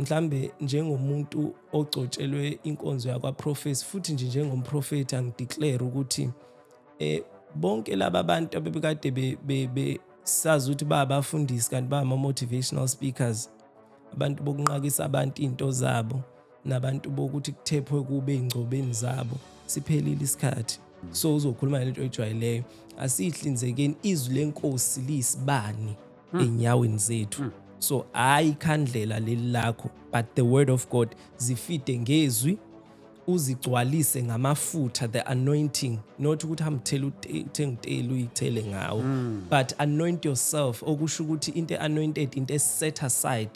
mhlambe njengomuntu ogcotshelwe inkonzo yakwaprofesi futhi nje njengomprofethi angideclare ukuthi eh bonke laba bantu abebekade besazi ukuthi babafundisi kanti ba motivational speakers abantu bokunqakisa abantu into zabo nabantu bokuthi kuthephwe kube ingcobeni zabo siphelile isikhathi so uzokhuluma lento ejwayileyo asihlinzekeni izwi lenkosi liyisibani mm. enyaweni zethu mm. so hayi ikhandlela leli lakho but the word of god zifide ngezwi uzigcwalise ngamafutha the anointing not ukuthi hamthela uthenga utela uyithele ngawo mm. but anoint yourself okusho ukuthi into anointed into set aside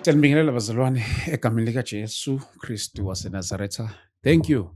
Siyanibingelela bazalwane egameni likaJesu Kristu waseNazaretha. Thank you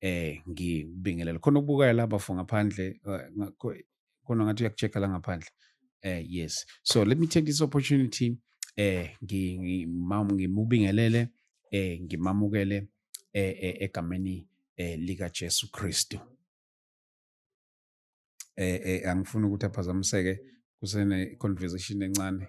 eh ngibingelele khona ukubukaya laba for ngaphandle eh, khona ngathi uyakuchecka la ngaphandle eh yes so let me take this opportunity eh ngimubingelele eh ngimamukele eh, eh egameni eh lika Jesu Kristu eh, eh angifuni ukuthi aphazamiseke kusene conversation encane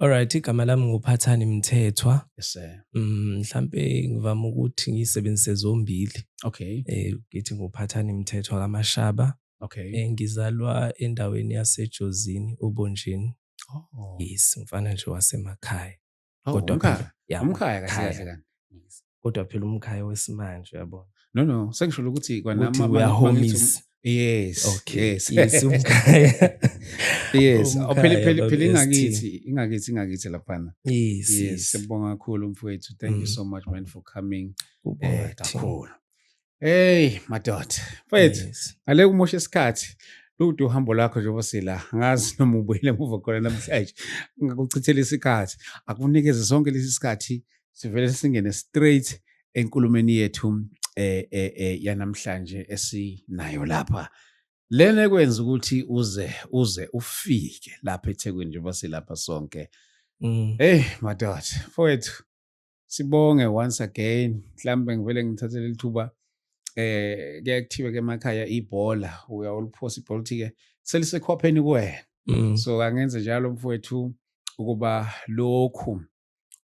Alright, igama lami nguphathani Mthethwa. Yes sir. Mm, mhlambe ngivama ukuthi ngisebenzise zombili. Okay. Eh ngithi nguphathani Mthethwa kaMashaba. Okay. Eh ngizalwa endaweni yaseJozini uBonjini. Oh. Yes, mfana nje wasemakhaya. Oh, Kodwa umkhaya. Yeah, umkhaya kahle kahle kanti. kodwa phela umkhaya wesimanje yabona no no sengisho ukuthi kwanama we are homies yes okay yes, yes umkhaya yes oh, phela phela phela ingakithi ingakithi ingakithi laphana yes yes sibonga kakhulu mfowethu thank mm. you so much man for coming eh, kakhulu Hey madoda mfethu Yes. ngale kumosha isikhathi lude uhambo lwakho njengoba sila ngazi noma ubuyele emuva khona namhlanje ngakuchithela isikhathi akunikeze sonke lesi sikhathi sivele singene straight enkulumeni yethu eh, eh, eh, yanamhlanje esinayo lapha lena ekwenza ukuthi uze uze ufike lapha ethekwini njengoba silapha sonke Mm. Hey madoda mfowethu sibonge once again mhlambe ngivele ngithathe leli thuba eh kuyaye kuthiwe ke emakhaya ibhola uyawuliphosa ibhola uthi-ke selisekhwapheni kuwena mm. so angenze njalo mfowethu ukuba lokhu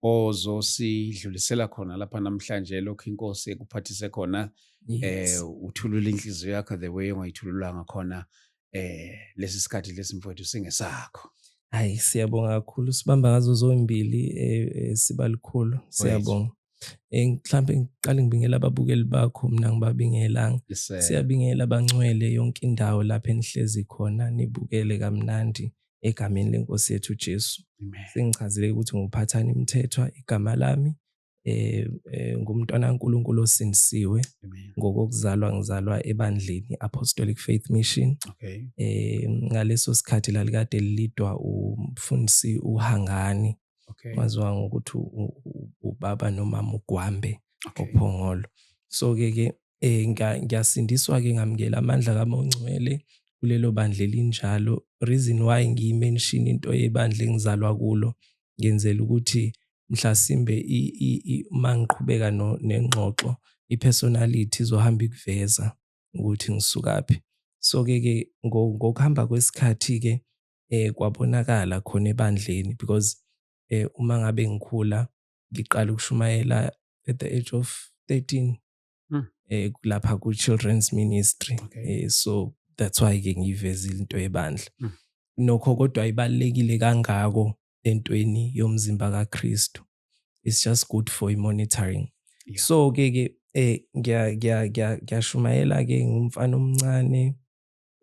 ozosidlulisela khona lapha namhlanje lokhu inkosi ekuphathise khona eh uthulula inhliziyo yakho the way ongayithululanga khona eh lesi sikhathi lesi mfowethu singesakho hayi siyabonga kakhulu sibamba ngazo zombili eh, eh, siba likhulu siyabonga eh, mhlambe ngiqale ngibingela ababukeli bakho mina ngibabingelanga siyabingela bangcwele yonke indawo lapho enihlezi khona nibukele kamnandi egameni lenkosi yethu Jesu sengichazile ukuthi nguphathani imithethwa igama lami eh, eh ngumntwana kaNkuluNkulu osindisiwe ngokokuzalwa ngizalwa ebandleni Apostolic Faith Mission okay eh ngaleso sikhathi lalikade lilidwa umfundisi uHangani okay waziwa ngokuthi ubaba nomama uGwambe okay. ophongolo so ke ke eh ngiyasindiswa ke ngamukela amandla kaMongcwele kulelo bandla elinjalo reason why ngiyimention into yebandla engizalwa kulo ngenzela ukuthi mhlasimbe uma ngiqhubeka nengxoxo i-personality izohamba ikuveza ukuthi ngisukaphi. So-ke ke ngokuhamba kwesikhathi-ke kwabonakala khona ebandleni because uma ngabe ngikhula ngiqala ukushumayela at the age of 13 hmm. lapha ku-children's ministry so that's why-ke ngiyiveza into yebandla hmm. nokho kodwa ibalulekile kangako entweni yomzimba kaKristu it's just good for monitoring yeah. so ke ke eh ngiya ngiya ngiyashumayela ke ngumfana omncane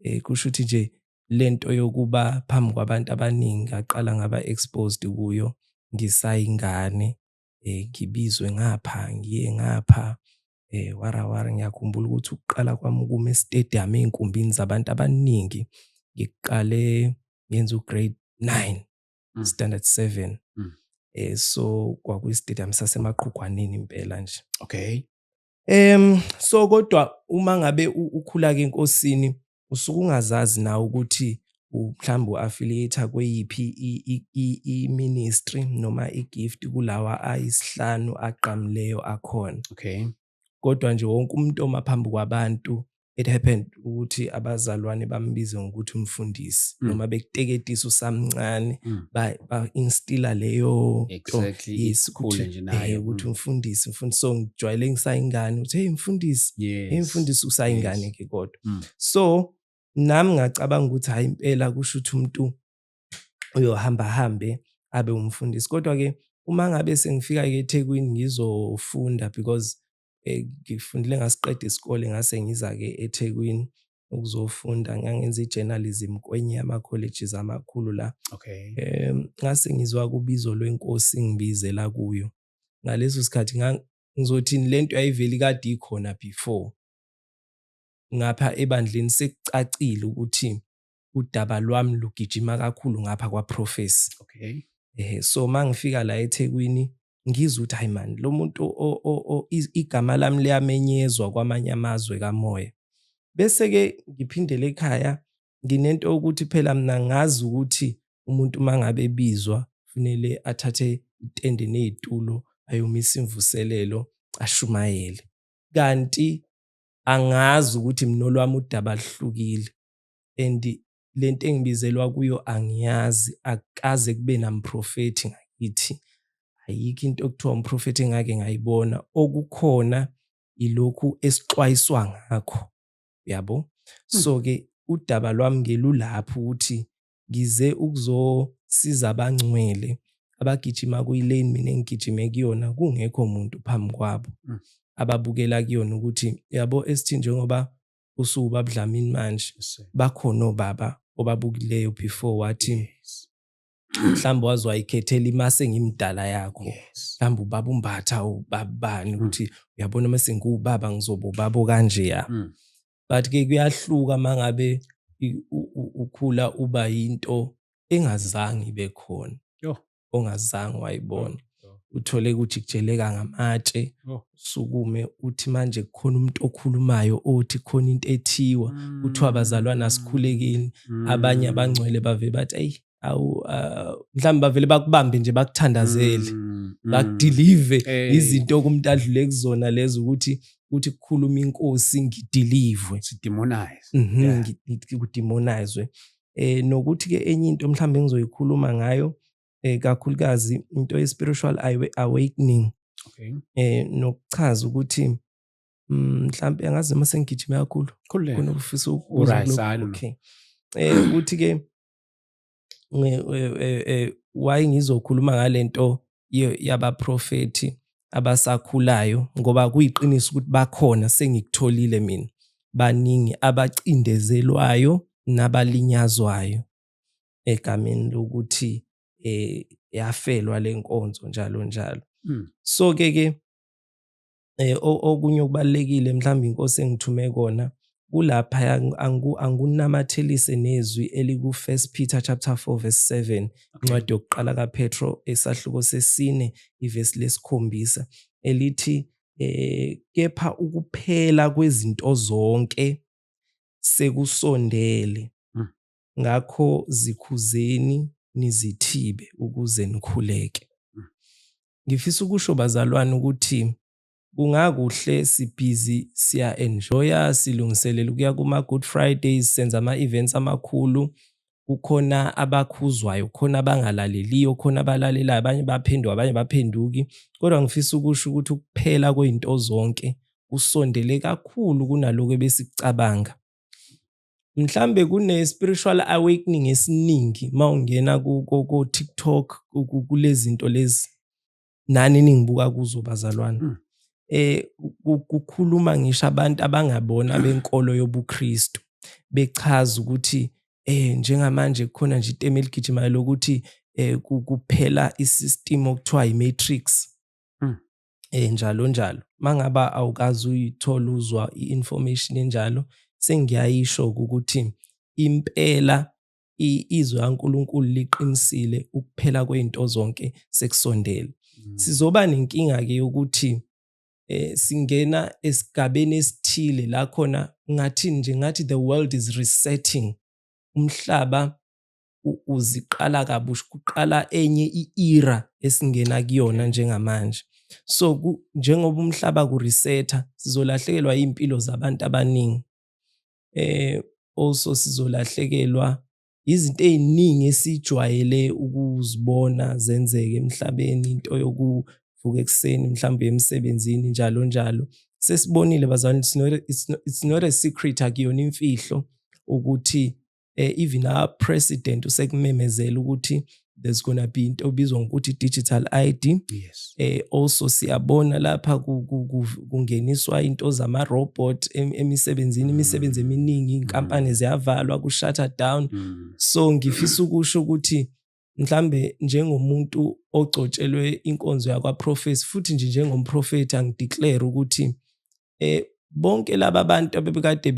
eh kusho ukuthi nje lento yokuba phambi kwabantu abaningi ngaqala ngaba exposed kuyo ngisayingane eh ngibizwe ngapha ngiye ngapha eh warawara ngiyakhumbula ukuthi ukuqala kwami ukuma estadium ezinkumbini zabantu abaningi ngiqale ngenza ugrade 9 mm. standard 7 mm. eh so kwakuyi stadium sasemaqhugwaneni impela nje okay em so kodwa uma ngabe ukhula ke enkosini usuke ungazazi nawe ukuthi mhlawumbe u-affiliate kweyiphi i-ministry noma i-gift kulawa ayisihlanu agqamileyo akhona okay kodwa nje wonke umuntu oma phambi kwabantu it happened ukuthi abazalwane bambize ngokuthi umfundisi mm. noma bekuteketisa usamncane mm. ba-instila leyo exactly. yes, ukuthi nje naye eh, ukuthi mm. umfundisi mfundisi so ngijwayele ngisayingane uthi hey mfundisi yes. hey mfundisi usayingane ke kodwa mhlawumbe mm. so nami ngacabanga ukuthi hayi impela kusho ukuthi umuntu uyohamba hambe abe umfundisi kodwa ke uma ngabe sengifika ke eThekwini ngizofunda because eh, ngifundile ngasiqeda isikole ngase ngiza ke eThekwini ukuzofunda ngangenza i-journalism kwenye yama-colleges amakhulu la okay. um ngase ngizwa kubizo lwenkosi ngibizela kuyo ngaleso sikhathi ngizothini le nto yayiveli kade ikhona before ngapha ebandleni sekucacile ukuthi udaba lwami lugijima kakhulu ngapha kwaProphecy. Okay. Eh so mangifika la eThekwini ngizwe ukuthi hayi man lo muntu igama lami liyamenyezwa kwamanye amazwe kamoya. Bese ke ngiphindele ekhaya nginento ukuthi phela mina ngazi ukuthi umuntu mangabe ebizwa kufanele athathe itende nezitulo ayomisa imvuselelo ashumayele. Kanti angazi ukuthi mina olwami udaba luhlukile and lento engibizelwa kuyo angiyazi akaze kube namprofethi ngakithi ayikho into okuthiwa umprofethi engake ngayibona okukhona ilokhu esixwayiswa ngakho yabo hmm. so ke udaba lwami ngelulapho ukuthi ngize ukuzosiza abangcwele abagijima kuyilane mina engigijime kuyona kungekho muntu phambi kwabo mm. ababukela kuyona ukuthi yabo esithi njengoba usuku babudlamini manje bakhona obaba obabukileyo before wathi mhlawumbe waze wayikhethela imase engimdala yakho mhlawumbe ubaba umbatha ubabani mm. ukuthi uyabona uma sengiwubaba ngizoba ubaba okanjeya mm. but ke kuyahluka mangabe ukhula uba into engazange ibe khona ongazange wayibona uthole ukuthi kujeleka ngamatshe sukume uthi manje kukhona umuntu okhulumayo othi khona into ethiwa kuthiwa mm. abazalwana asikhulekini mm. abanye abangcwele bave bathi ayi awu uh, mhlawumbe bavele bakubambe nje bakuthandazele mm, mm. bakudelive hey. izinto okumntu adlule kuzona lezo ukuthi ukuthi kukhuluma inkosi ngidilivwe sidemonize mm -hmm, yeah. kudemonizwe eh nokuthi ke enye into mhlawumbe ngizoyikhuluma ngayo eh kakhulukazi into ye spiritual awakening okay eh nokuchaza ukuthi mm, mhlawumbe angazi uma sengigijima kakhulu kunokufisa ukuzwa okay eh ukuthi ke why ngizokhuluma ngalento yabaprofethi abasakhulayo ngoba kuyiqiniso ukuthi bakhona sengikutholile mina baningi abacindezelwayo nabalinyazwayo egameni lokuthi eh yafelwa lenkonzo njalo njalo hmm. so ke ke eh, okunye okubalulekile mhlawumbe inkosi engithume kona kulapha angikunamathelise nezwi eliku-1 Peter chapter 4 verse 7 incwadi yokuqala kaPetro esahluko sesine ivesi lesikhombisa elithi eh kepha ukuphela kwezinto zonke sekusondele hmm. ngakho zikhuzeni nizithibe ukuze nikhuleke mm. ngifisa ukusho bazalwane ukuthi kungakuhle sibhizi siya enjoya silungiselela ukuya kuma good fridays senza ama events amakhulu kukhona abakhuzwayo khona abangalaleliyo khona abalalelayo abanye baphenduka abanye baphenduki kodwa ngifisa ukusho ukuthi ukuphela kwezinto zonke kusondele kakhulu kunaloko ebesicabanga mhlambe kune spiritual awakening esiningi mawungena ku ku TikTok kulezinto lezi nani ningibuka kuzo bazalwana hmm. eh kukhuluma ngisho abantu abangabona benkolo yobuKristu bechaza ukuthi eh njengamanje kukhona nje itema eligijimayo lokuthi eh kuphela isystem okuthiwa imatrix hmm. eh njalo njalo mangaba awukazi uyithola uzwa i-information enjalo sengiyayisho ukuthi impela izwe kaNkulunkulu liqinisile ukuphela kwezinto zonke sekusondele mm. sizoba nenkinga ke yokuthi eh singena esigabeni esithile la khona ngathi nje ngathi the world is resetting umhlaba uziqala kabusha kuqala enye i-era esingena kuyona njengamanje so njengoba umhlaba kuresetha sizolahlekelwa iy'mpilo zabantu abaningi eh also sizolahlekelwa izinto ey'ningi esijwayele ukuzibona zenzeke emhlabeni into yokuvuka ekuseni mhlawumbe emsebenzini njalo njalo sesibonile bazalwane it's not a secret akuyona imfihlo ukuthi eh, even our president usekumemezela ukuthi there's gonna be into obizwa ngokuthi digital ID yes eh also siyabona lapha kungeniswa into zama robot emisebenzini mm. imisebenzi eminingi inkampani mm. ziyavalwa ku shutter down mm. so ngifisa ukusho ukuthi mhlambe njengomuntu ogcotshelwe inkonzo yakwaprofesi futhi nje njengomprofethi angideclare ukuthi eh bonke laba bantu abebekade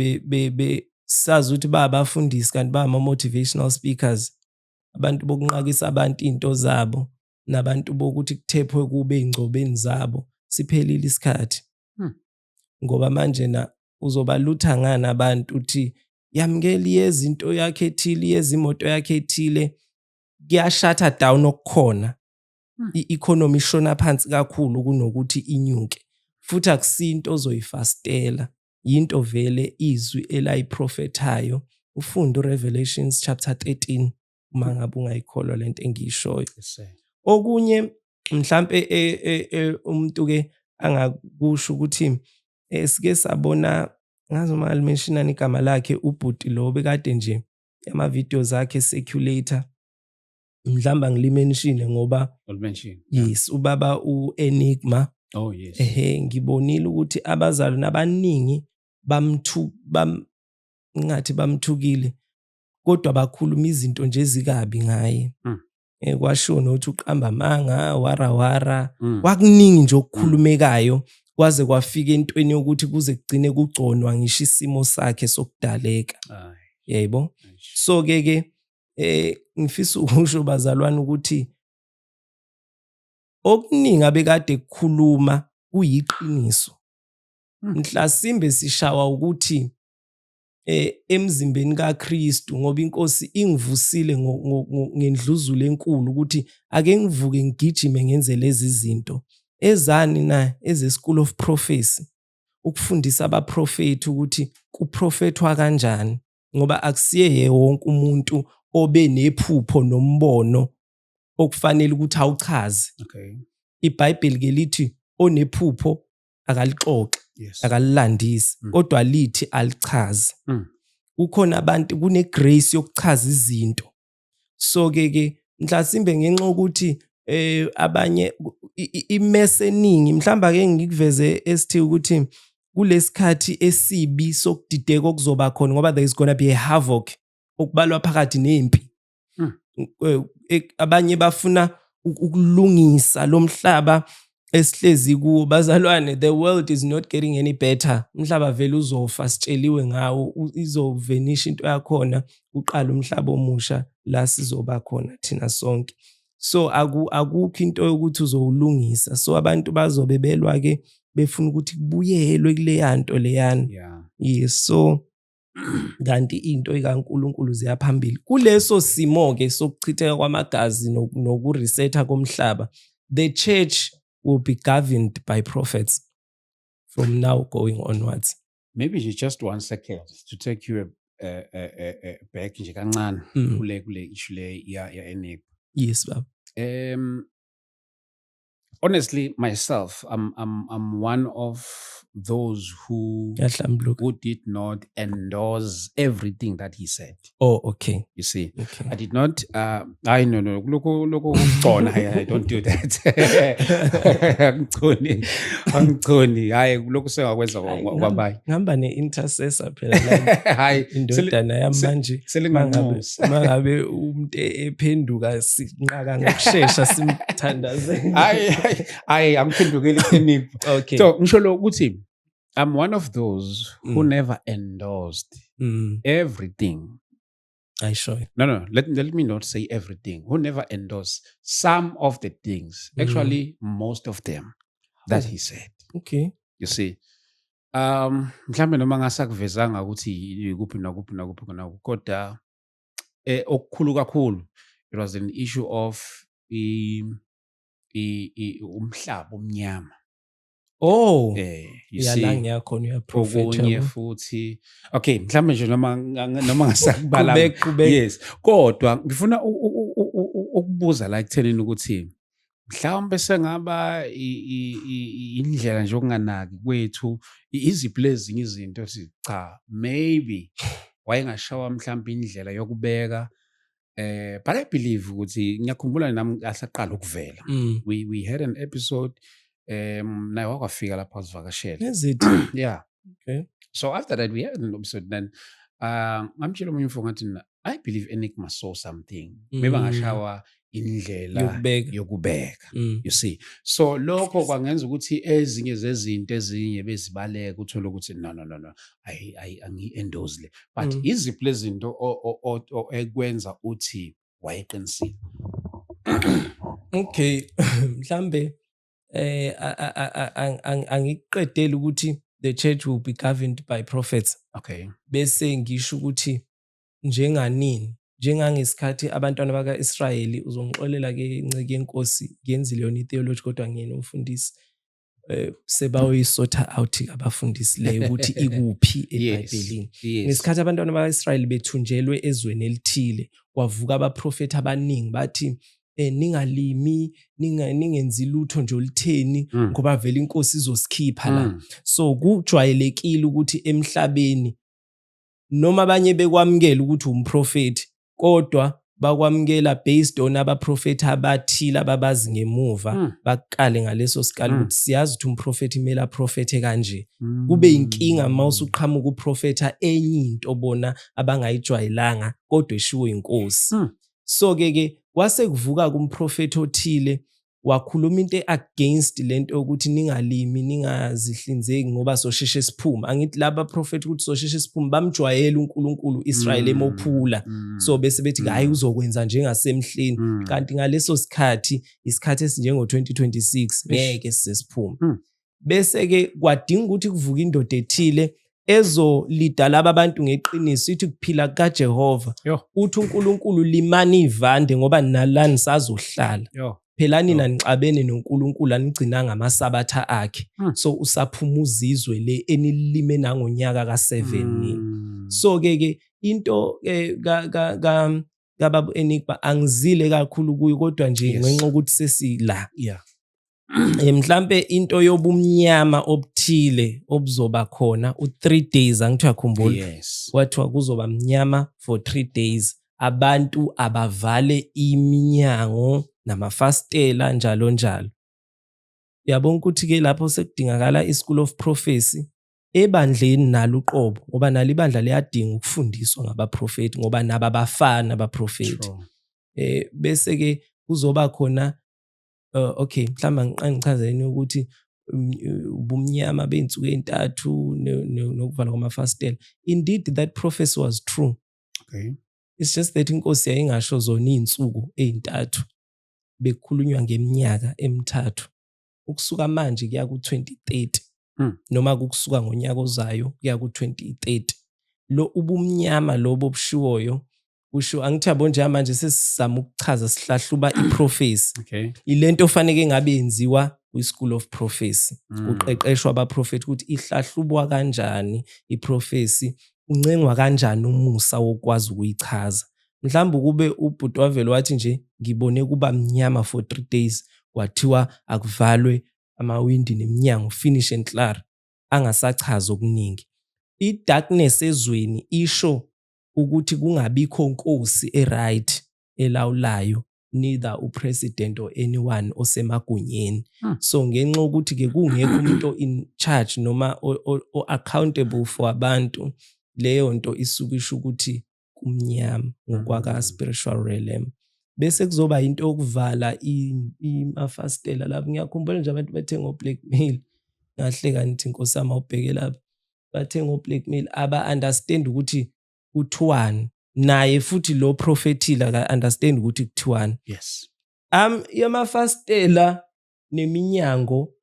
besazi ukuthi ba abafundisi kanti ba ama-motivational speakers abantu bokunqakisa abantu iy'nto zabo nabantu bokuthi kuthephwe kube ey'ngcobeni zabo siphelile isikhathi hmm. ngoba manje na uzobalutha ngani abantu uthi yamukeli yezinto yakhe ethile yezimoto yakhe ethile kuyashatha down okukhona hmm. i-economy ishona phansi kakhulu kunokuthi inyuke futhi akusinto ozoyifastela yinto vele izwi elayiprofethayo ufunde uRevelations chapter 13 uma mm. ngabe ungayikholwa lento engiyishoyo okunye mhlambe e, e, e, umuntu ke angakusho ukuthi esike sabona ngazi uma alimentionani igama lakhe ubhuti lo bekade nje ama videos akhe circulator mhlamba ngilimenshine ngoba yes ubaba uenigma oh yes ehe ngibonile ukuthi abazalwane abaningi bamthu bam ngathi bamthukile kodwa bakhuluma izinto nje ezikabi ngaye mm. eh, kwashiwo nokuthi uqamba amanga warawara mm. kwakuningi nje okukhulumekayo kwaze kwafika entweni yokuthi kuze kugcine kugconwa ngisho isimo sakhe sokudaleka yebo so ke ke eh ngifisa ukusho bazalwane ukuthi okuningi abekade kukhuluma kuyiqiniso hmm. mhlasimbe sishawa ukuthi eh, emzimbeni kaKristu ngoba inkosi ingivusile ngendluzula enkulu ukuthi ake ngivuke ngigijime ngenze lezi zinto ezani na eze-school of prophecy ukufundisa abaprofethi ukuthi kuprofethwa kanjani ngoba akusiye wonke umuntu obe nephupho nombono okufanele ukuthi awuchaze okay. ibhayibheli ke lithi onephupho akalixoxi yes. akalilandisi mm. kodwa lithi alichazi mm. kukhona abantu kunegrace yokuchaza izinto so ke ke mhlasimbe ngenxa ukuthi eh abanye imese eningi mhlamba ke ngikuveze esithi ukuthi kulesikhathi esibi sokudideka okuzoba khona ngoba there is gonna be a havoc okubalwa phakathi nempi hmm. eh, eh, abanye bafuna ukulungisa lo mhlaba esihlezi kuwo bazalwane the world is not getting any better umhlaba vele uzofa sitsheliwe ngawo izovenisha into yakhona uqala umhlaba omusha la sizoba khona thina sonke so aku akukho into yokuthi uzowulungisa so abantu bazobe belwa ke befuna ukuthi kubuyelwe kuleya nto leyana yeah. yes so kanti into ikaNkulunkulu ziyaphambili kuleso simo ke sokuchitheka kwamagazi nokuresetha komhlaba the church will be governed by prophets from now going onwards maybe nje just one second to take you uh, uh, uh, back nje kancane mm. kule kule issue le ya ya enep yes baba um honestly myself I'm, I'm, I'm one of those who who did not endorse everything that he said oh okay you see okay. i did not uh i no no look look ukugcona i don't do that angigconi angigconi hayi lokhu sengakwenza kwabayi ngihamba ne intercessor phela hayi indodana yamanje selinganqosa mangabe umuntu ephenduka sinqaka ngokushesha simthandaze hayi hayi angiphendukeli ekutheni okay so ngisho lo ukuthi i'm one of those mm. who never endorsed mm. everything I show it. No, no. Let, let me not say everything. Who never endorse some of the things. Mm. Actually, mm. most of them that oh. he said. Okay. You see. Um, mhlambe noma ngasakuvezanga ukuthi ikuphi nakuphi nakuphi nakuphi kodwa eh, okukhulu kakhulu it was an issue of i, i, i umhlaba omnyama Oh eh you see yala ngiyakhona uyaprofeta okunye futhi okay mhlawumbe nje noma noma ngasakubala yes kodwa ngifuna ukubuza la ekuthenini ukuthi mhlawumbe sengaba indlela nje okunganaki kwethu iziphi lezinye izinto sithi cha maybe wayengashawa mhlawumbe indlela yokubeka eh but i believe ukuthi ngiyakhumbula nami asaqala ukuvela mm. we we had an episode um naye wakwafika lapho azivakashela yeah okay. so after that we had an episode then uh, ngamtshela omunye umfo ngathi i believe enigma saw something mm. maybe angashawa indlela yokubeka, yokubeka. Mm. you see so lokho kwangenza ukuthi ezinye zezinto ezinye bezibaleka uthole ukuthi no no no no angi-endose le but mm. iziphi lezinto ekwenza uthi wayeqinisile okay mhlambe eh angiqedeli ukuthi the church will be governed by prophets okay bese ngisho ukuthi njenganini njengangesikhathi abantwana baka-israyeli uzongixolela ke nceke yenkosi ngenzile yona itheology kodwa ngiyena umfundisi eh, sebayoyisotha out abafundisi le ukuthi ikuphi ebhayibhelini ngesikhathi abantwana baka-israyeli bethunjelwe ezweni elithile kwavuka abaprofethi abaningi bathi eh ningalimi ninga ningenzi lutho nje olitheni mm. ngoba vele inkosi izosikhipha la mm. so kujwayelekile ukuthi emhlabeni noma abanye bekwamukela ukuthi umprofethi kodwa bakwamukela based on abaprofethi abathile ababazi ngemuva mm. bakukale ngaleso sikali hmm. ukuthi mm. siyazi ukuthi umprofethi kumele aprofethe kanje mm. kube inkinga uma hmm. usuqhamuka uprofetha enye into bona abangayijwayelanga kodwa eshiwo inkosi mm. so ke ke kwase kuvuka kumprofethi othile wakhuluma into against lento ukuthi ningalimi ningazihlinzeki ngoba sosheshe siphume angithi laba prophet ukuthi sosheshe siphume bamjwayele uNkulunkulu Israel mm. emophula mm. so bese bethi hayi mm. uzokwenza njengasemhleni kanti ngaleso sikhathi isikhathi esinjengo 2026 ngeke sisiphume bese-ke kwadinga ukuthi kuvuke indoda ethile ezolida laba bantu ngeqiniso ithi kuphila kukaJehova uthi uNkulunkulu limani ivande ngoba nalani sazohlala phela nina nixabene noNkulunkulu anigcinanga amasabatha akhe hmm. so usaphuma uzizwe le enilime nangonyaka ka7 hmm. nini so ke ke into eh, ka ka kababu enigba angizile kakhulu kuyo kodwa nje ngenxa ukuthi sesila yeah eh, mhlambe into yobumnyama obuthile obuzoba khona u3 days angithi uyakhumbula yes. kwathiwa kuzoba mnyama for 3 days abantu abavale iminyango namafastela njalo njalo uyabona ukuthi ke lapho sekudingakala ischool of prophecy ebandleni nalo uqobo ngoba nalo ibandla liyadinga ukufundiswa ngabaprofeti ngoba naba bafana abaprofeti eh bese ke kuzoba khona uh, okay mhlawumbe ngiqangichazeleni ukuthi um, ubumnyama bey'nsuku ey'ntathu nokuvala kwamafasitela indeed that prophecy was true okay. it's just that inkosi yayingasho zona iy'nsuku ey'ntathu bekukhulunywa ngeminyaka emithathu ukusuka manje kuya ku-2030 hmm. noma kukusuka ngonyaka ozayo kuya ku-2030 lo ubumnyama lobo obushiwoyo kusho angithi yabo njengamanje sesizama ukuchaza sihlahluba iprofesi okay. ilento ofaneke ngabe yenziwa kwi-school of prophecy mm. kuqeqeshwa abaprofethi ukuthi ihlahlubwa kanjani iprofesi uncengwa kanjani umusa wokwazi ukuyichaza mhlawumbe ukube ubhuti wavele wathi nje ngibone kuba mnyama for three days kwathiwa akuvalwe amawindi neminyango finish and clar angasachazi okuningi i-darkness ezweni isho ukuthi kungabikho nkosi eright elawulayo neither upresident or anyone osemagunyeni hmm. so ngenxa ukuthi ke kungekho umuntu in charge noma o accountable for abantu leyo nto isuke isho ukuthi kumnyama ngokwaka hmm. spiritual realm bese kuzoba into yokuvala imafastela lapho ngiyakhumbula nje abantu bethe ngo blackmail ngahleka ngithi nkosama ubheke lapha bathenga oblackmail aba-understand ukuthi kuthiwani naye futhi lo prophetile aka-understand ukuthi kuthiwani yes um yamafastela neminyango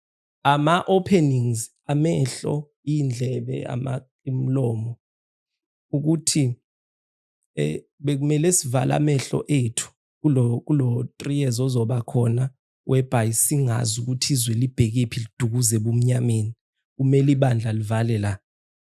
ama-openings amehlo iy'ndlebe imlomo ukuthi eh bekumele sivale amehlo ethu kulo kulo 3 years ozoba khona whereby singazi ukuthi izwe libhekephi lidukuze ebumnyameni kumele ibandla livale la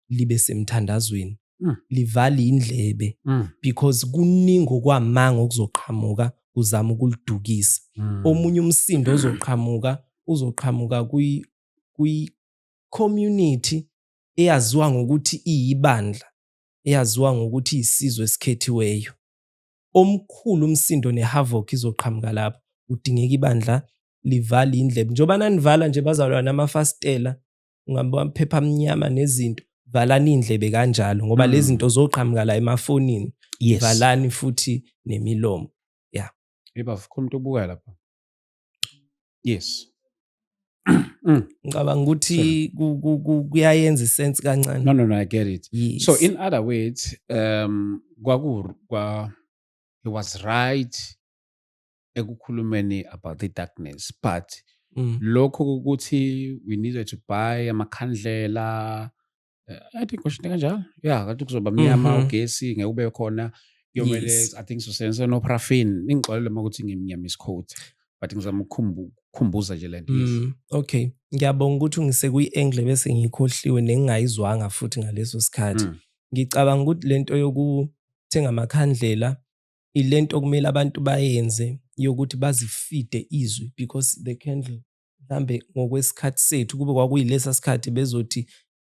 libe semthandazweni mm. livale indlebe mm. because kuningi okwamanga okuzoqhamuka kuzama ukulidukisa mm. omunye umsindo ozoqhamuka uzoqhamuka kwi kwi community eyaziwa ngokuthi iyibandla eyaziwa ngokuthi isizwe esikhethiweyo omkhulu umsindo nehavoc izoqhamuka lapho kudingeka ibandla livale indlebe njengoba nanivala nje bazalwa namafasitela ungabaphepha amnyama nezinto valani indlebe kanjalo ngoba mm. lezi zinto zoqhamuka la emafonini yes. valani futhi nemilomo ya yeah. yeba vukho umuntu obuka lapha yes mm. ngicabanga ukuthi kuyayenza isense kancane no no no i get it yes. so in other words um kwaku kwa he was right ekukhulumeni about the darkness but mm. lokho ukuthi we needed to buy amakhandlela Eh, i think kwashini kanjalo ya kanti kuzoba mnyama Mhm. ugesi ngeke ube khona kuyomele Yes. i think sosebenzisa nopraffin ningixolele uma ukuthi ngimnyama isikhoti but ngizama ukukhumbu- ukukhumbuza nje le nto yes. Mm, okay ngiyabonga ukuthi ungise kwi-angle bese ngikhohliwe nengingayizwanga futhi ngaleso sikhathi Mm. ngicabanga ukuthi le nto yokuthenga amakhandlela ile nto okumele abantu bayenze yokuthi bazifide izwi because the candle mhlambe ngokwesikhathi sethu kube kwakuyilesa sikhathi bezothi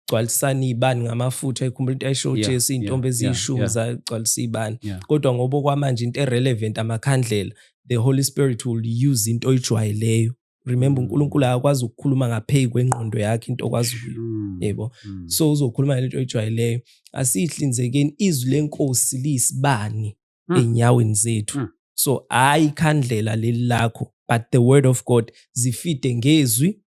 gcwalisana iy'bani ngamafutha ikhumbula into ayisho yeah, ujesu iy'ntombi yeah, eziyishumi yeah, zagcwalisa iy'bani yeah. kodwa ngoba okwamanje into erelevant amakhandlela the holy spirit will use into oyijwayeleyo remember mm. unkulunkulu akakwazi ukukhuluma ngapheyi kwengqondo yakhe into okwazi mm. yebo mm. so uzokhuluma ngale nto oyijwayeleyo asiyihlinzekeni izwi lenkosi liyisibani mm. enyaweni zethu mm. so hayi ikhandlela leli lakho but the word of god zifide ngezwi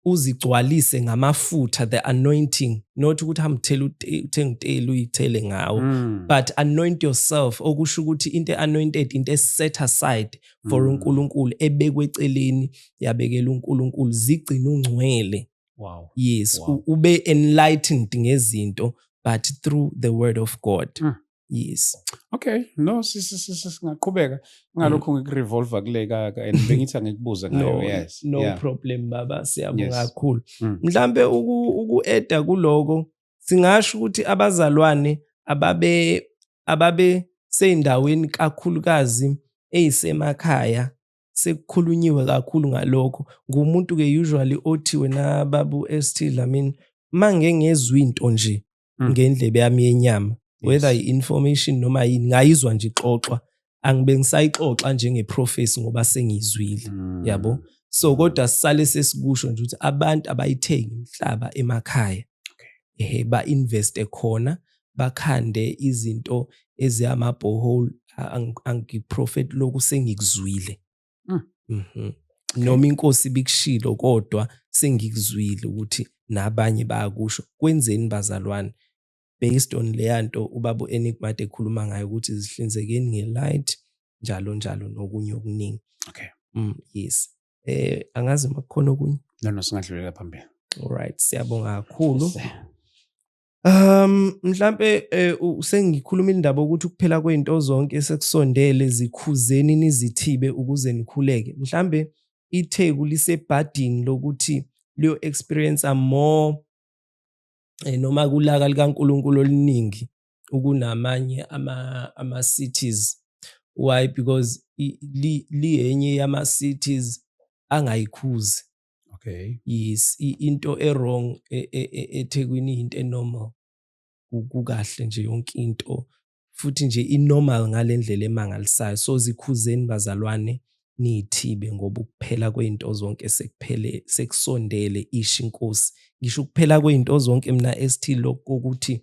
uzigcwalise ngamafutha the anointing not ukuthi hamthela uthenga uteli uyithele ngawo mm. but anoint yourself okusho ukuthi into anointed into eset aside for mm. uNkulunkulu ebekwe eceleni yabekela uNkulunkulu zigcina ungcwele wow yes wow. ube enlightened ngezinto but through the word of God mm. yes okay no singaqhubeka ngalokho mm. ngikurevolva kule kaka and bengithi angikubuze ngayo yes no yeah. problem baba siyabonga kakhulu mm. mhlambe uku-eda kuloko singasho ukuthi abazalwane ababe ababe seyindaweni kakhulukazi eyisemakhaya sekukhulunyiwe kakhulu ngalokho ngumuntu-ke usually othi wena babu ST Dlamini mangengezwa into nje mm. ngendlebe yami yenyama whether yes. i-information noma yini ngayizwa nje ixoxwa angibe ngisayixoxa njengeprofesi ngoba sengiyizwile mm. yabo so kodwa sisale sesikusho nje ukuthi abantu abayithengi umhlaba emakhaya ehe ba-investe khona bakhande izinto eziyama-bohole angiprofeti lokhu sengikuzwile mm. mm -hmm. okay. noma inkosi bikushilo kodwa sengikuzwile ukuthi nabanye bayakusho kwenzeni bazalwane based on leya nto ubaba u-enigmat ekhuluma ngayo ukuthi zihlinzekeni nge-light njalo njalo nokunye okuningi okay mm, yes eh angazi uma kukhona okunye no no singadlulela phambili all right siyabonga kakhulu Um mhlampe eh, sengikhuluma indaba ukuthi ukuphela kwento zonke esekusondele zikhuzeni nizithibe ukuze nikhuleke. Mhlambe iTheku lisebhadini lokuthi liyo experience more eh, noma kulaka likaNkulunkulu oluningi ukunamanye ama ama cities. Why? Because liyenye yama cities angayikhuzi. okay yes into ewrong e, e, e, eThekwini into enormal kukahle nje yonke into futhi nje inormal ngalendlela emangalisayo so zikhuzeni bazalwane nithibe ngoba ukuphela kwezinto zonke sekuphele sekusondele ishi inkosi ngisho ukuphela kwezinto zonke mina esithi lokho ukuthi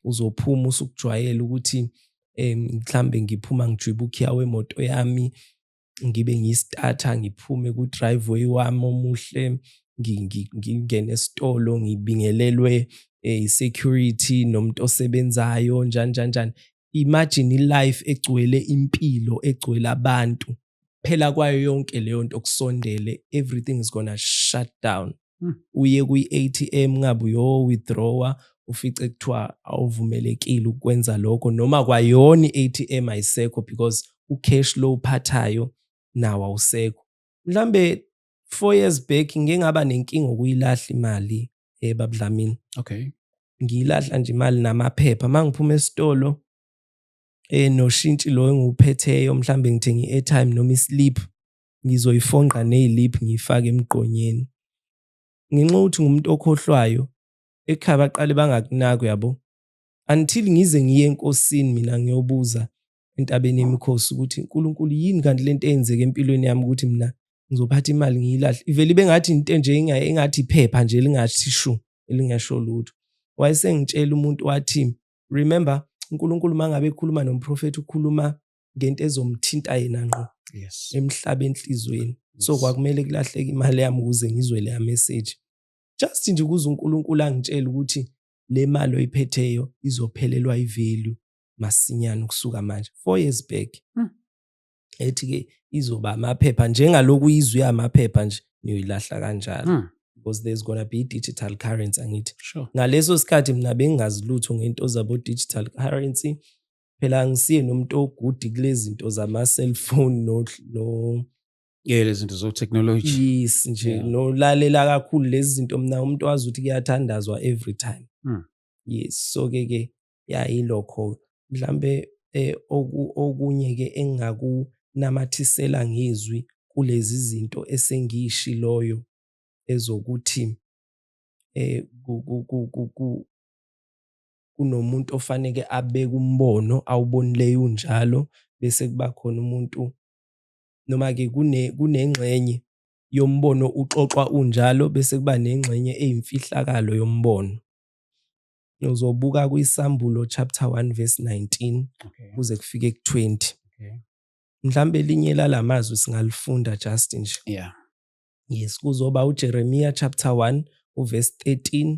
uzophuma usukujwayela ukuthi mhlambe ngiphuma ngijwiba ukhiya wemoto yami ngibe ngiyistarter ngiphume ku driveway wami omuhle ngingene esitolo ngibingelelwe eh, i-security nomuntu osebenzayo njani njani njani imagine i-life egcwele impilo egcwele abantu phela kwayo yonke leyo nto kusondele everything is gonna shut down hmm. uye kwi-atm ngabe uyo-withdrawa ufice kuthiwa awuvumelekile ukwenza lokho noma kwayona i-atm ayisekho because u-cash lo uphathayo nawo awusekho mhlambe four years back ngike ngaba nenkinga ukuyilahla imali ebabudlamini eh, okay ngiyilahla nje imali namaphepha uma ngiphuma esitolo eh noshintshi lo engiwuphetheyo mhlambe ngithenga i-airtime noma islip ngizoyifonqa neylip ngiyifake emgqonyeni ngenxa ukuthi ngumuntu okhohlwayo ekhaya baqale bangakunaki yabo until ngize ngiye enkosini mina ngiyobuza entabeni yemikhosi ukuthi uNkulunkulu yini kanti lento eyenzeke empilweni yami ukuthi mina ngizophatha imali ngiyilahle ivele ibe ngathi into nje engathi iphepha nje lingathi shu elingasho lutho wayesengitshela umuntu wathi remember uNkulunkulu mangabe ekhuluma nomprofeti ukhuluma ngento ezomthinta yena ngqo yes emhlabe enhlizweni yes. so kwakumele kulahleke imali yami ukuze ngizwe leya message just nje ukuze uNkulunkulu angitshele ukuthi le mali oyiphetheyo izophelelwa ivalue masinyane ukusuka manje 4 years back hmm. ethi ke izoba amaphepha njengaloku izwi amaphepha nje niyoyilahla kanjalo hmm. because there's gonna be digital currency angithi sure. ngaleso sikhathi mina bengingazi lutho ngento zabo digital currency phela angisiye nomuntu ogudi kulezinto zama cellphone no no yeah lezinto zo technology yes nje yeah. nolalela kakhulu lezi zinto mina umuntu wazi ukuthi kuyathandazwa every time mm. yes so ke ke yayilokho mhlambe eh, oku, okunye ke engakunamathisela ngezwi kulezi zinto esengiyishiloyo ezokuthi eh ku, ku, ku, ku, ku kunomuntu ofaneke abeke umbono awubonileyo unjalo bese kuba khona umuntu noma-ke kunengxenye yombono uxoxwa unjalo bese kuba nengxenye eyimfihlakalo yombono uzobuka kwisambulo chapter 1 verse 19 kuze okay. kufike ku-20 okay. mhlawumbe elinye lala mazwi singalifunda just nje yeah. yes kuzoba ujeremiya chapter 1 uverse 13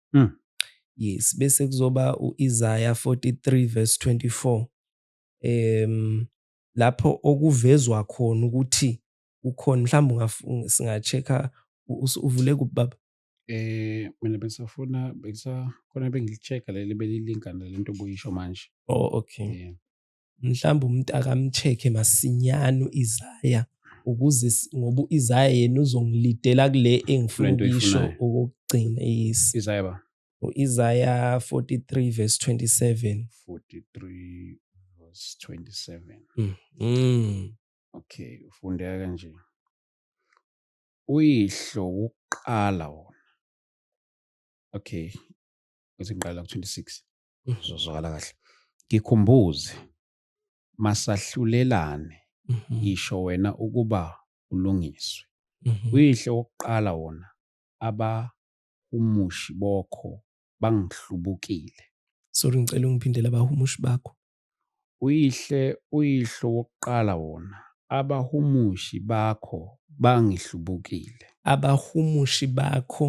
Mm. Yes, bese kuzoba uIsaya 43 verse 24. Em lapho okuvezwa khona ukuthi ukhona mhlawumbe singa-check-a uvule kuphi baba? Eh mina bengisafuna bengisa khona bengicheck leli belilinkana lento obuyisho manje. Oh okay. Yeah. mhlawumbe umntaka amcheck-e masinyane u-Isaya ukuze s- ngoba u-Isaya yena uzongilidela kule engifuna Lento ukuyisho oyifunayo. okokugcina yes Isaya ba u-Isaya 43 verse 27 43 verse 27. mm. Mm. Okay, ufundeka kanje. Uyihlo wokuqala wona. Okay. Kuthi ngiqala ku 26. Mm. Uzozwakala kahle. Ngikhumbuze masahlulelane Mhm. ngisho wena ukuba ulungiswe. Mhm. Uyihle wokuqala wona abahumushi bokho bangihlubukile. Sorry ngicela ungiphindele abahumushi bakho. Uyihlo, uyihlo wokuqala wona. Abahumushi bakho bangihlubukile. Abahumushi bakho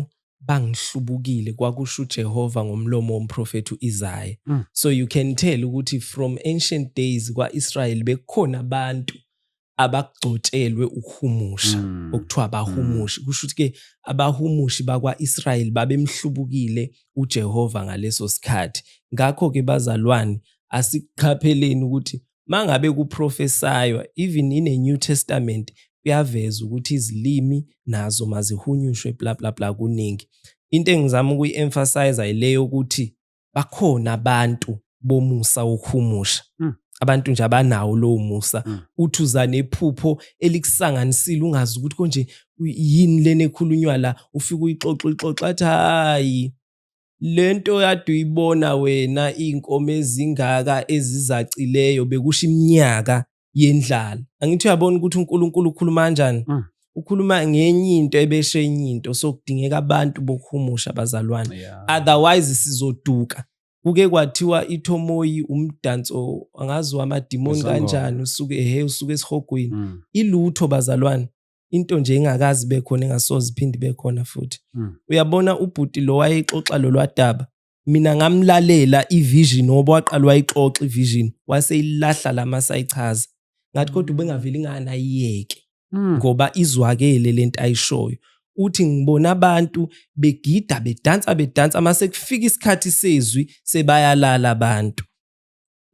bangihlubukile kwakusho uJehova ngomlomo womprofethi uIsaya. Mm. So you can tell ukuthi from ancient days kwaIsrael bekukhona abantu abagcotshelwe ukuhumusha mm. okuthiwa abahumushi mm. kusho ukuthi-ke abahumushi bakwa-israyeli babemhlubukile ujehova ngaleso sikhathi ngakho-ke bazalwane asiqapheleni ukuthi uma ngabe kuprofesaywa even in a new testament kuyaveza ukuthi izilimi nazo mazihunyushwe bla bla bla kuningi into engizama ukuyi-emphasiza yileyo ukuthi bakhona abantu bomusa wokuhumusha mm. abantu nje abanawo lowo musa mm. uthi uza nephupho elikusanganisile ungazi ukuthi konje yini lena ekhulunywa la ufike uyixoxa uyixoxa athi hayi le nto yade uyibona wena iy'nkomo ezingaka ezizacileyo bekusho iminyaka yendlala angithi uyabona ukuthi uNkulunkulu ukhuluma kanjani mm. ukhuluma ngenye into ebeshe enye into so kudingeka abantu bokuhumusha abazalwane yeah. otherwise sizoduka kuke kwathiwa ithomoyi umdanso angazi wamadimoni kanjani usuke ehe usuke esihogweni mm. ilutho bazalwane into nje ingakazi bekhona engasoze iphinde bekhona futhi mm. uyabona ubhuti lo wayexoxa lolwadaba mina ngamlalela ivision ngoba waqala wayixoxa ivision waseyilahla lama sayichaza ngathi kodwa mm. ubengaveli ngani ayiyeke mm. ngoba izwakele lento ayishoyo uthi ngibona abantu begida bedansa bedansa mase kufika isikhathi sezwi sebayalala abantu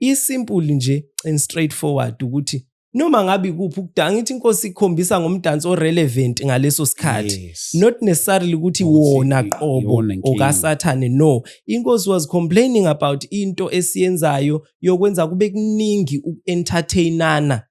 isimple nje and straight forward ukuthi noma ngabe kuphi ukudanga ngithi inkosi ikhombisa ngomdanso orelevant ngaleso sikhathi yes. not necessarily ukuthi wona qobo okasathane no inkosi was complaining about into esiyenzayo yokwenza kube kuningi uku-entertainana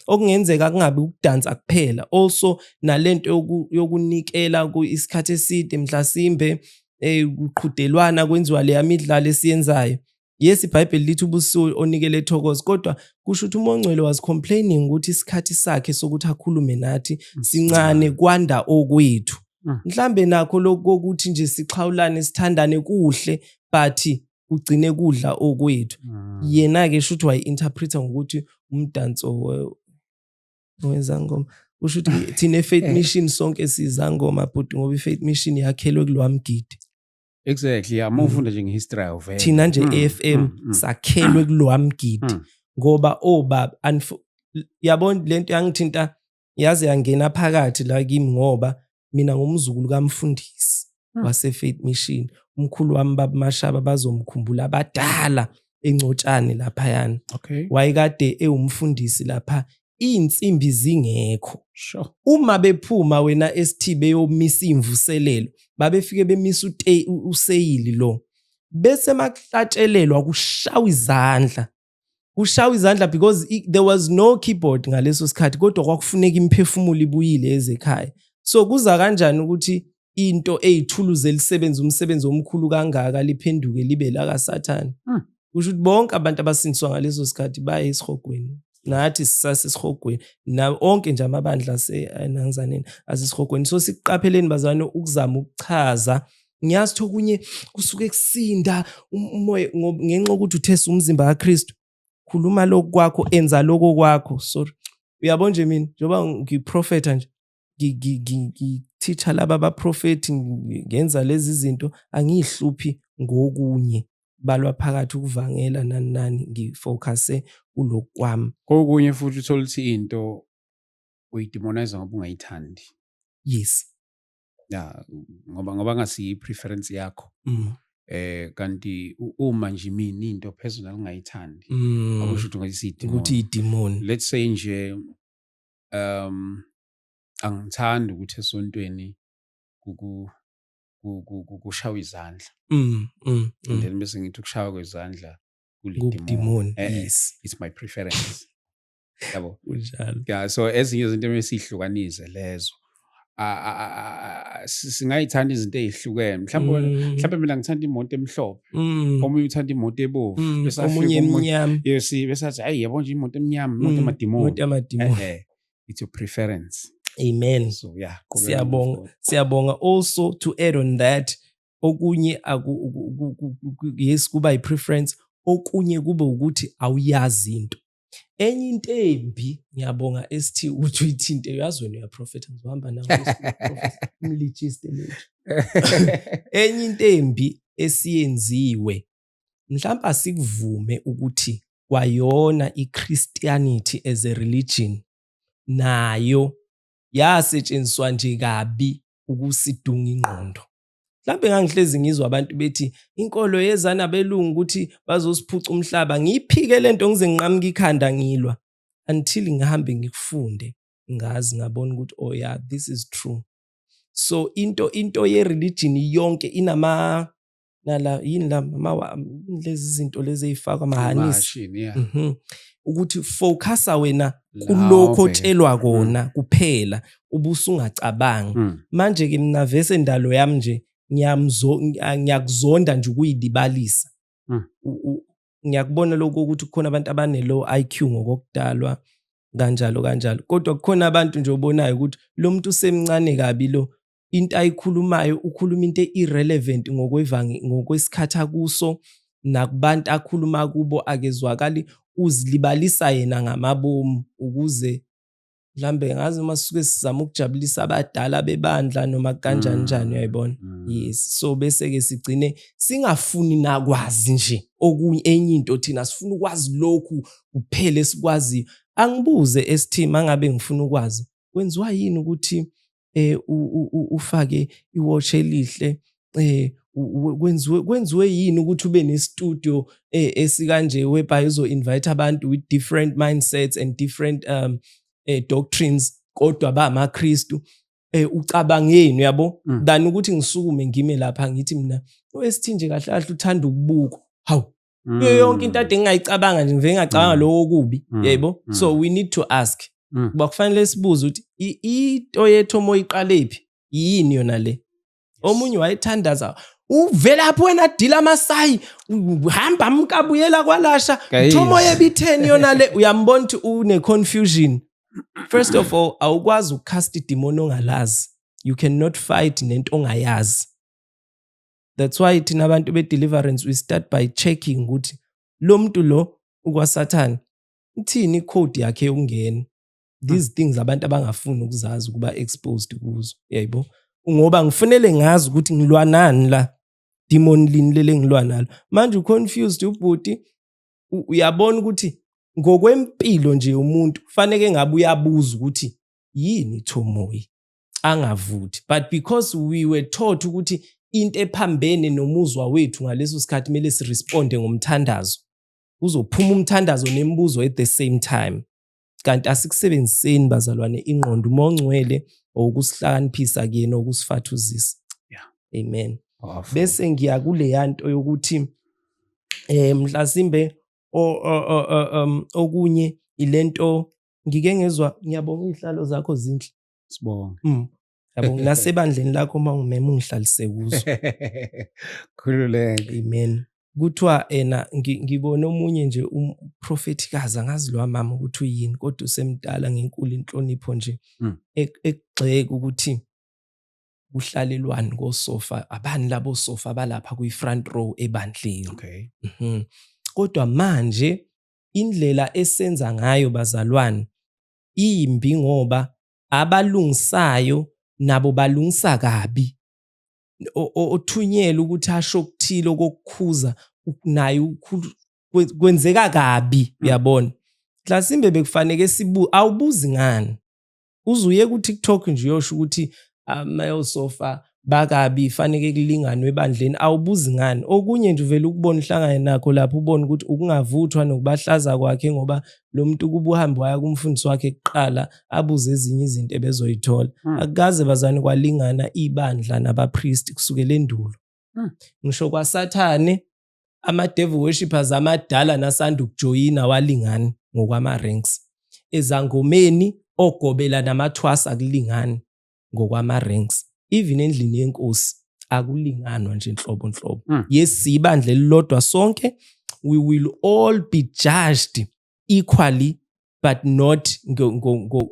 okungenzeka kungabi ukudansa kuphela also nalento yokunikela isikhathi eside mhlasimbe eh kuqhudelwana kwenziwa leya midlalo esiyenzayo yes ibhayibheli lithi ubuso onikele ethokoza kodwa kusho ukuthi umongcwele was complaining ukuthi isikhathi sakhe sokuthi akhulume nathi mm. sincane kwanda okwethu mm. mhlambe nakho lokho ukuthi nje sixhawulane sithandane kuhle but kugcine kudla okwethu mm. yena ke shuthi wayi interpreter ngokuthi umdanso wezangoma usho ukuthi thina efaith eh. mission sonke sizangoma bhuti ngoba ifaith mission yakhelwe kulwamgidi exactly yeah uma mm. ufunda nje ngehistory of thina nje mm, AFM mm, sakhelwe kulwamgidi ngoba obaba oh, yabona lento yangithinta yaze yangena phakathi la kimi ngoba mina ngumzukulu kamfundisi hmm. wasefaith mission umkhulu wami babamashaba bazomkhumbula abadala encotshane laphayana okay. wayekade ewumfundisi lapha iy'nsimbi zingekho sure. uma bephuma wena esithi beyomisa iy'mvuselelo babefike bemisa useyili lo bese makuhlatshelelwa kushawa izandla kushawa izandla because i, there was no keyboard ngaleso sikhathi kodwa kwakufuneka imphefumulo ibuyile ezekhaya so kuza kanjani ukuthi into eyithuluzi elisebenza umsebenzi omkhulu kangaka liphenduke libe la kasathane hmm. kusho ukuthi bonke abantu abasindiswa ngaleso sikhathi baye esihogweni nathi sisasesihogweni na onke nje amabandla asenangizaneni asesihogweni so sikuqapheleni bazane ukuzama ukuchaza ngiyazi ukuthi okunye kusuke kusinda um-, umoya ngenxa yokuthi uthesa umzimba kaKristu khuluma lokhu kwakho enza lokho kwakho sorry uyabo nje mina njengoba ngiprofetha nje ngithicha laba baprofethi ngenza lezi zinto angiyihluphi ngokunye balwa phakathi ukuvangela nani nani ngifocuse kulokhu kwami kokunye futhi uthole ukuthi into uyidemonize ngoba ungayithandi yes ya ngoba ngoba ngasiyi preference yakho mm. eh kanti uma nje mina into personal ngayithandi mm. akusho ukuthi ngayisidi ukuthi idemon let's say nje um angithandi ukuthi esontweni kuku kushawa izandla mm, mm, mm. then bese ngithi ukushawa kwezandla kulidimoni eh, yes it's my preference yabo kunjalo yeah so ezinye izinto emesihlukanise lezo singayithanda izinto ezihlukene mhlawumbe mm. mhlawumbe mina ngithanda imoto emhlophe mm. omunye uthanda imoto ebovu mm, omunye emnyama yes besathi hayi yabo nje imoto emnyama imoto emadimoni imoto emadimoni eh, eh. it's your preference amen so yeah siyabonga siyabonga also to add on that okunye yes kuba i preference okunye kube ukuthi awuyazi into enye into embi ngiyabonga ST ukuthi uyithinte uyazi wena uyaprofetha ngizohamba nawo umlijiste lethu enye into embi esiyenziwe mhlawumbe asikuvume ukuthi kwayona iChristianity as a religion nayo yasetshenziswa nje kabi ukusidunga ingqondo mhlawumbe ngangihlezi ngizwa abantu bethi inkolo yeza nabelungu ukuthi bazosiphuca umhlaba ngiyiphike le nto ngize nginqamuke ikhanda ngilwa until ngihambe ngikufunde ngazi ngabona ukuthi oh yeah this is true so into into ye-religion yonke inama nala yini la lezi zinto lezi ey'fakwa mahanisi ukuthi focasa wena kulokho otshelwa kona mm. kuphela ubusungacabangi mm. manje ke mina vese ndalo yami nje ngiyakuzonda nje ukuyilibalisa mm. ngiyakubona lokho ukuthi kukhona abantu abane-low i q ngokokudalwa kanjalo kanjalo kodwa kukhona abantu nje obonayo ukuthi lo muntu usemncane kabi lo into ayikhulumayo ukhuluma into e-irrelevant ngokwesikhathi akuso nakubantu akhuluma kubo akezwakali uzilibalisa yena ngamabomu ukuze mhlambe ngazi uma sisuke sizama ukujabulisa abadala bebandla noma kanjani mm. njani uyayibona mm. yes so bese ke sigcine singafuni nakwazi nje okunye enye into thina sifuna ukwazi lokhu kuphele sikwazi angibuze esithima ngabe ngifuna ukwazi kwenziwa yini ukuthi eh ufake iwatch elihle eh kwenziwe kwenziwe yini ukuthi ube ne studio eh, esikanje whereby uzo invite abantu with different mindsets and different um eh, doctrines kodwa ba amaKristu eh ucabangeni uyabo mm. than ukuthi ngisukume ngime lapha ngithi mina oSithinje kahle kahle uthanda ukubuka hawu mm. kuyo yonke into ade ngingayicabanga nje ngivele ngacabanga mm. lokho okubi mm. yebo mm. so we need to ask mm. kuba kufanele sibuze ukuthi into yethu omoya iqalephi yini yona le omunye wayethandaza uvelaphi wena dila amasayi hamba mkabuyela kwalasha thomo yebitheni yona le uyambona ukuthi une-confusion first of all awukwazi ukucast idimoni ongalazi you cannot fight nento ongayazi that's why thina abantu be-deliverance we start by checking ukuthi lo muntu lo ukwasathane ithini i-code yakhe yokungena these hmm. things abantu abangafuni ukuzazi ukuba exposed kuzo yayibo ngoba ngifunele ngazi ukuthi ngilwanani la demon lini lele ngilwa nalo manje uconfused ubhuti uyabona ukuthi ngokwempilo nje umuntu kufanele ngabe uyabuza ukuthi yini ithomoyi angavuthi but because we were taught ukuthi into ephambene nomuzwa wethu ngaleso sikhathi kumele siresponde ngomthandazo uzophuma umthandazo nemibuzo at the same time kanti asikusebenziseni bazalwane ingqondo uma ongcwele okusihlakaniphisa kuyena okusifathuzisa yeah. amen Awful. bese ngiya kuleya nto yokuthi eh mhlasimbe um, okunye ilento ngike ngezwa ngiyabonga izihlalo zakho zinhle sibonge mm. nasebandleni lakho uma ungimema ungihlalise kuzo khululeke amen kuthiwa ena ngibone omunye nje umprofethikazi angazi lo mama ukuthi uyini kodwa usemdala ngenkulu inhlonipho nje hmm. e-, ekugxeka ukuthi kuhlalelwani kosofa abani labo sofa balapha kwi-front row ebandleni okay. mm -hmm. kodwa manje indlela esenza ngayo bazalwane imbi ngoba abalungisayo nabo balungisa kabi othunyelwe ukuthi asho okuthile okokukhuza naye kwenzeka kabi mm. uyabona mhlasimbe bekufaneke sibu awubuzi ngani uze uye ku-tiktok nje uyosho ukuthi male so far bakabi faneke kulinganwe ebandleni awubuzi ngani okunye nje uvela ukubona uhlangane nakho lapho ubona ukuthi ukungavuthwa nokubahlaza kwakhe ngoba lo muntu kuba uhambe waya kumfundisi wakhe kuqala abuze ezinye izinto ebezoyithola hmm. akukaze bazane kwalingana ibandla nabapristi kusukela endulo hmm. ngisho kwasathane ama-devil worshippers amadala nasanda ukujoyina walingani ngokwama-ranks ezangomeni ogobela namathwasa akulingani ngokwama-ranks even endlini yenkosi akulinganwa nje nhlobo nhlobo mm. yes ibandla elilodwa sonke we will all be judged equally but not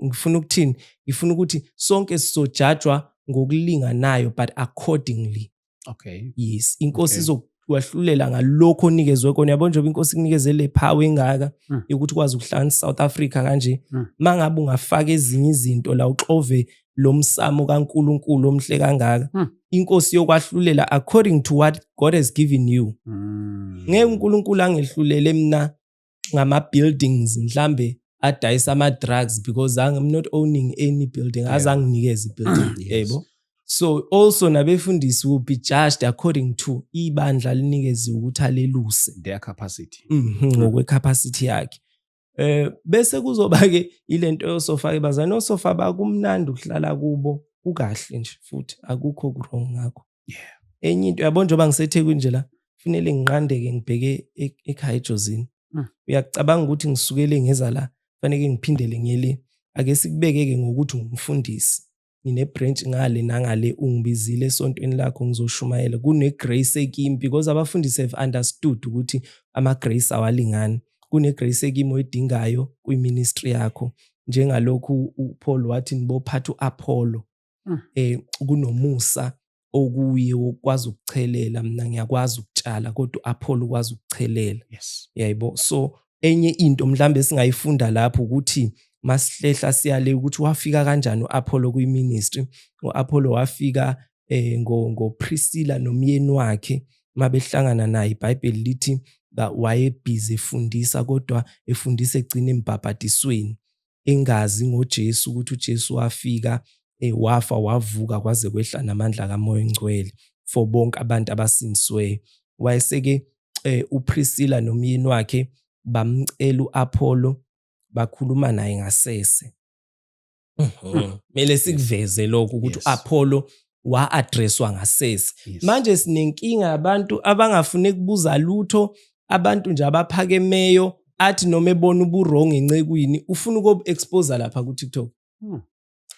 ngifuna ukuthini ngifuna ukuthi sonke sizojajwa ngokulinganayo but accordingly okay yes inkosi okay. izokwahlulela ngalokho onikezwe kona yabo njengoba inkosi ikunikeze le power engaka mm. yokuthi ukwazi ukuhlanganisa South Africa kanje mm. mangabe ungafaka ezinye izinto la uxove lo msamo kaNkuluNkulu omhle kangaka mm. inkosi yokwahlulela according to what God has given you hmm. ngeke uNkulunkulu angehlulele mina ngama buildings mhlambe adayisa ama drugs because I'm not owning any building yeah. azanginikeza ibuilding yes. yebo so also nabefundisi will be judged according to ibandla linikeze ukuthi aleluse their capacity mhm, ngokwe mm. capacity yakhe eh bese kuzoba ke ilento yosofa ke bazana osofa bakumnandi ukuhlala kubo ukahle nje futhi akukho wrong ngakho yeah enye into yabo njengoba ngisethekwini nje la kufanele ngiqandeke ngibheke e-, ekhaya ejozini hmm. uyacabanga ukuthi ngisukele ngeza la kufanele ngiphindele ngiyele ake sikubeke-ke ngokuthi ngumfundisi ngine-branch ngale nangale ungibizile esontweni lakho ngizoshumayela kune-grace ekimi because abafundisi have understood ukuthi ama-grace awalingani kune-grace ekimi oyidingayo kwi-ministry yakho njengalokhu uPaul wathi nibophatha uApollo um kunomusa okuye ukwazi ukuchelela mina ngiyakwazi ukutshala kodwa u-apholo ukwazi ukuchelela yes. yayibo so enye into mhlawumbe esingayifunda lapho ukuthi masihlehla siyale ukuthi wafika kanjani u-apholo kwiministry u-apholo wafika eh ngopriscilla nomyeni wakhe mabehlangana naye ibhayibheli lithi wayebhizi efundisa kodwa efundisa egcina embhabhadisweni engazi ngoJesu ukuthi uJesu wafika eh, wafa wavuka kwaze kwehla namandla kaMoya oNgcwele for bonke abantu abasindisweyo wayeseke eh, uPriscilla nomyeni wakhe bamcela uApollo bakhuluma naye ngasese mhm. kumele sikuveze lokho ukuthi uApollo wa-addresswa ngasese yes. manje sinenkinga abantu abangafune kubuza lutho abantu nje abaphakemeyo athi noma ebona uburong encekwini ufuna ukobu-exposa lapha ku-tiktok hmm.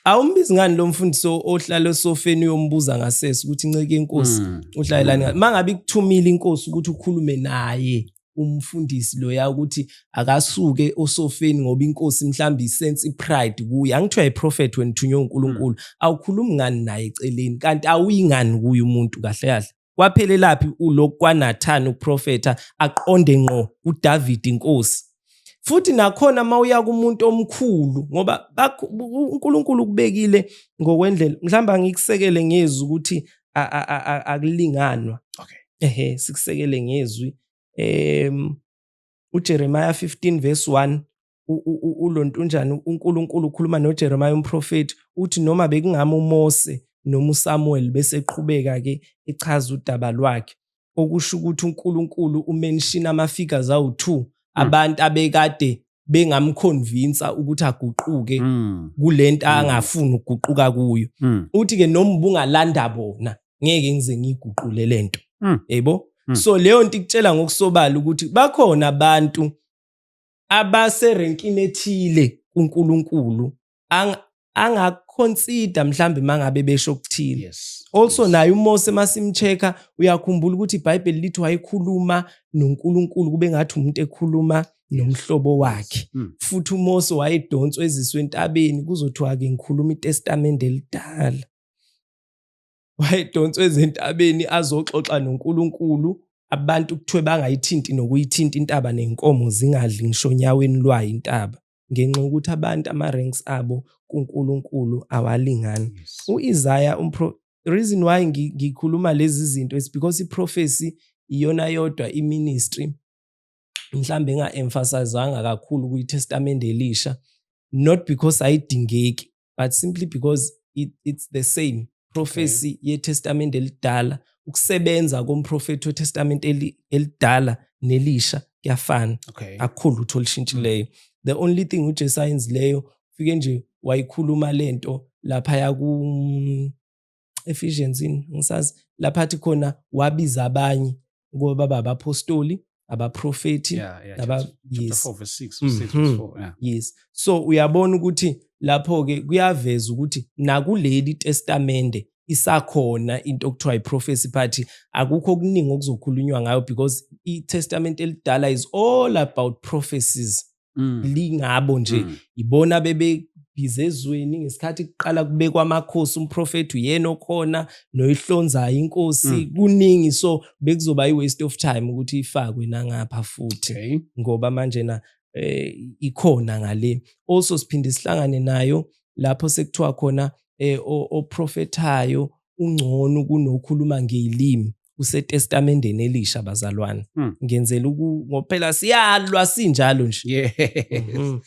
awumbizi ngani lo mfundisi ohlala esofeni uyombuza ngasese ukuthi nceke inkosi hmm. uhlalelani hmm. ma ngabe ikuthumile inkosi ukuthi ukhulume naye umfundisi loya ukuthi akasuke osofeni ngoba inkosi mhlawumbe isense ipride kuye angithiwa iprofet wena uthunywe uNkulunkulu hmm. awukhulumi ngani naye eceleni kanti awuyingani kuye umuntu kahle kahle kwaphelelaphi ulokhu kwanathani uprofetha aqonde ngqo uDavid inkosi futhi nakhona uma uya kumuntu omkhulu ngoba uNkulunkulu ukubekile ngokwendlela mhlawumbe angikusekele ngezwi ukuthi akulinganwa okay ehe sikusekele ngezwi em uJeremiah 15 verse 1 ulonto unjani uNkulunkulu ukhuluma noJeremiah umprofeti uthi noma bekungama uMose noma uSamuel bese eqhubeka ke echaza udaba lwakhe okusho ukuthi uNkulunkulu umenshina ama-figures awu-two mm. abantu abekade bengamkhonvinsa ukuthi aguquke mm. kule nto mm. angafuni ukuguquka kuyo mm. uthi-ke noma ubungalanda bona ngeke ngize ngiyiguqule le nto mm. yebo mm. so leyo nto ikutshela ngokusobala ukuthi bakhona abantu abaserenkini ethile kuNkulunkulu angaconsider mhlambe mangabe besho ukuthini yes, also yes. naye uMose masimcheka uyakhumbula ukuthi iBhayibheli lithi wayekhuluma noNkulunkulu kube ngathi umuntu ekhuluma nomhlobo wakhe mm. futhi uMose wayedonswa eziswe entabeni kuzothiwa ke ngikhuluma iTestament elidala wayedonswa ezentabeni azoxoxa noNkulunkulu abantu kuthiwe bangayithinti nokuyithinta intaba nenkomo zingadli ngisho onyaweni lwayo intaba ngenxa yokuthi abantu ama-ranks abo kuNkulunkulu awalingani u-Isaya reason why ngikhuluma lezi zinto is because i-prophecy iyona yodwa i-ministry mhlambe enga-emphasizanga kakhulu kwiTestamente Elisha not because ayidingeki but simply because it, it's the same prophecy okay. yetestamente elidala ukusebenza komprofethi wetestamente elidala nelisha kuyafana okay. akukhulu lutho olushintshileyo the only thing ujesu ayenzileyo fike nje wayikhuluma lento laphaya ku Ephesians yini ngisazi lapha athi khona wabiza abanye ngoba baba abapostoli abaprofethi yeah, yeah, naba yes. 4 verse 6 mm -hmm. 4, yeah. yes so uyabona ukuthi lapho ke kuyaveza ukuthi nakuleli testamente isakhona into okuthiwa iprofesi phathi akukho okuningi okuzokhulunywa ngayo because itestament elidala is all about prophecies mm. lingabo nje mm. ibona bebe bize ezweni ngesikhathi kuqala kubekwa amakhosi umprofethi uyena okhona noyihlonzayo inkosi mm. kuningi so bekuzoba i-waste of time ukuthi ifakwe nangapha futhi okay. ngoba manje na eh, ikhona ngale also siphinde sihlangane nayo lapho sekuthiwa khona eh, oprofethayo ungcono kunokhuluma ngelimi usetestamendeni elisha bazalwane mm. ngenzela ngophela siyalwa sinjalo nje yes. mm.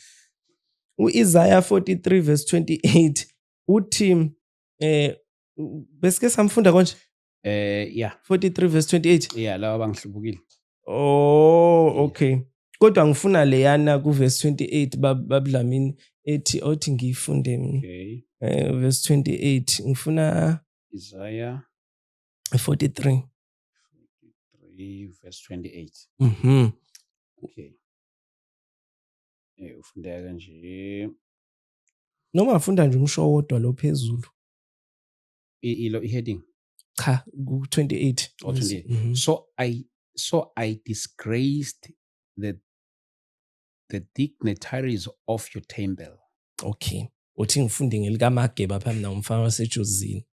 uIsaiah 43 verse 28 uthi eh besike samfunda konje eh yeah 43 verse 28 yeah lawa bangihlubukile oh okay kodwa ngifuna leyana ku verse 28 babudlamini ethi othi ngiyifunde mina okay eh verse 28 ngifuna Isaiah 43 43 verse 28 mhm okay eh ufundeka kanje noma afunda nje umsho wodwa lo phezulu ilo heading cha ku 28 oh, 28 mm -hmm. so i so i disgraced the the dignitaries of your temple okay uthi ngifunde ngelikaMageba phambi na umfana wasejozini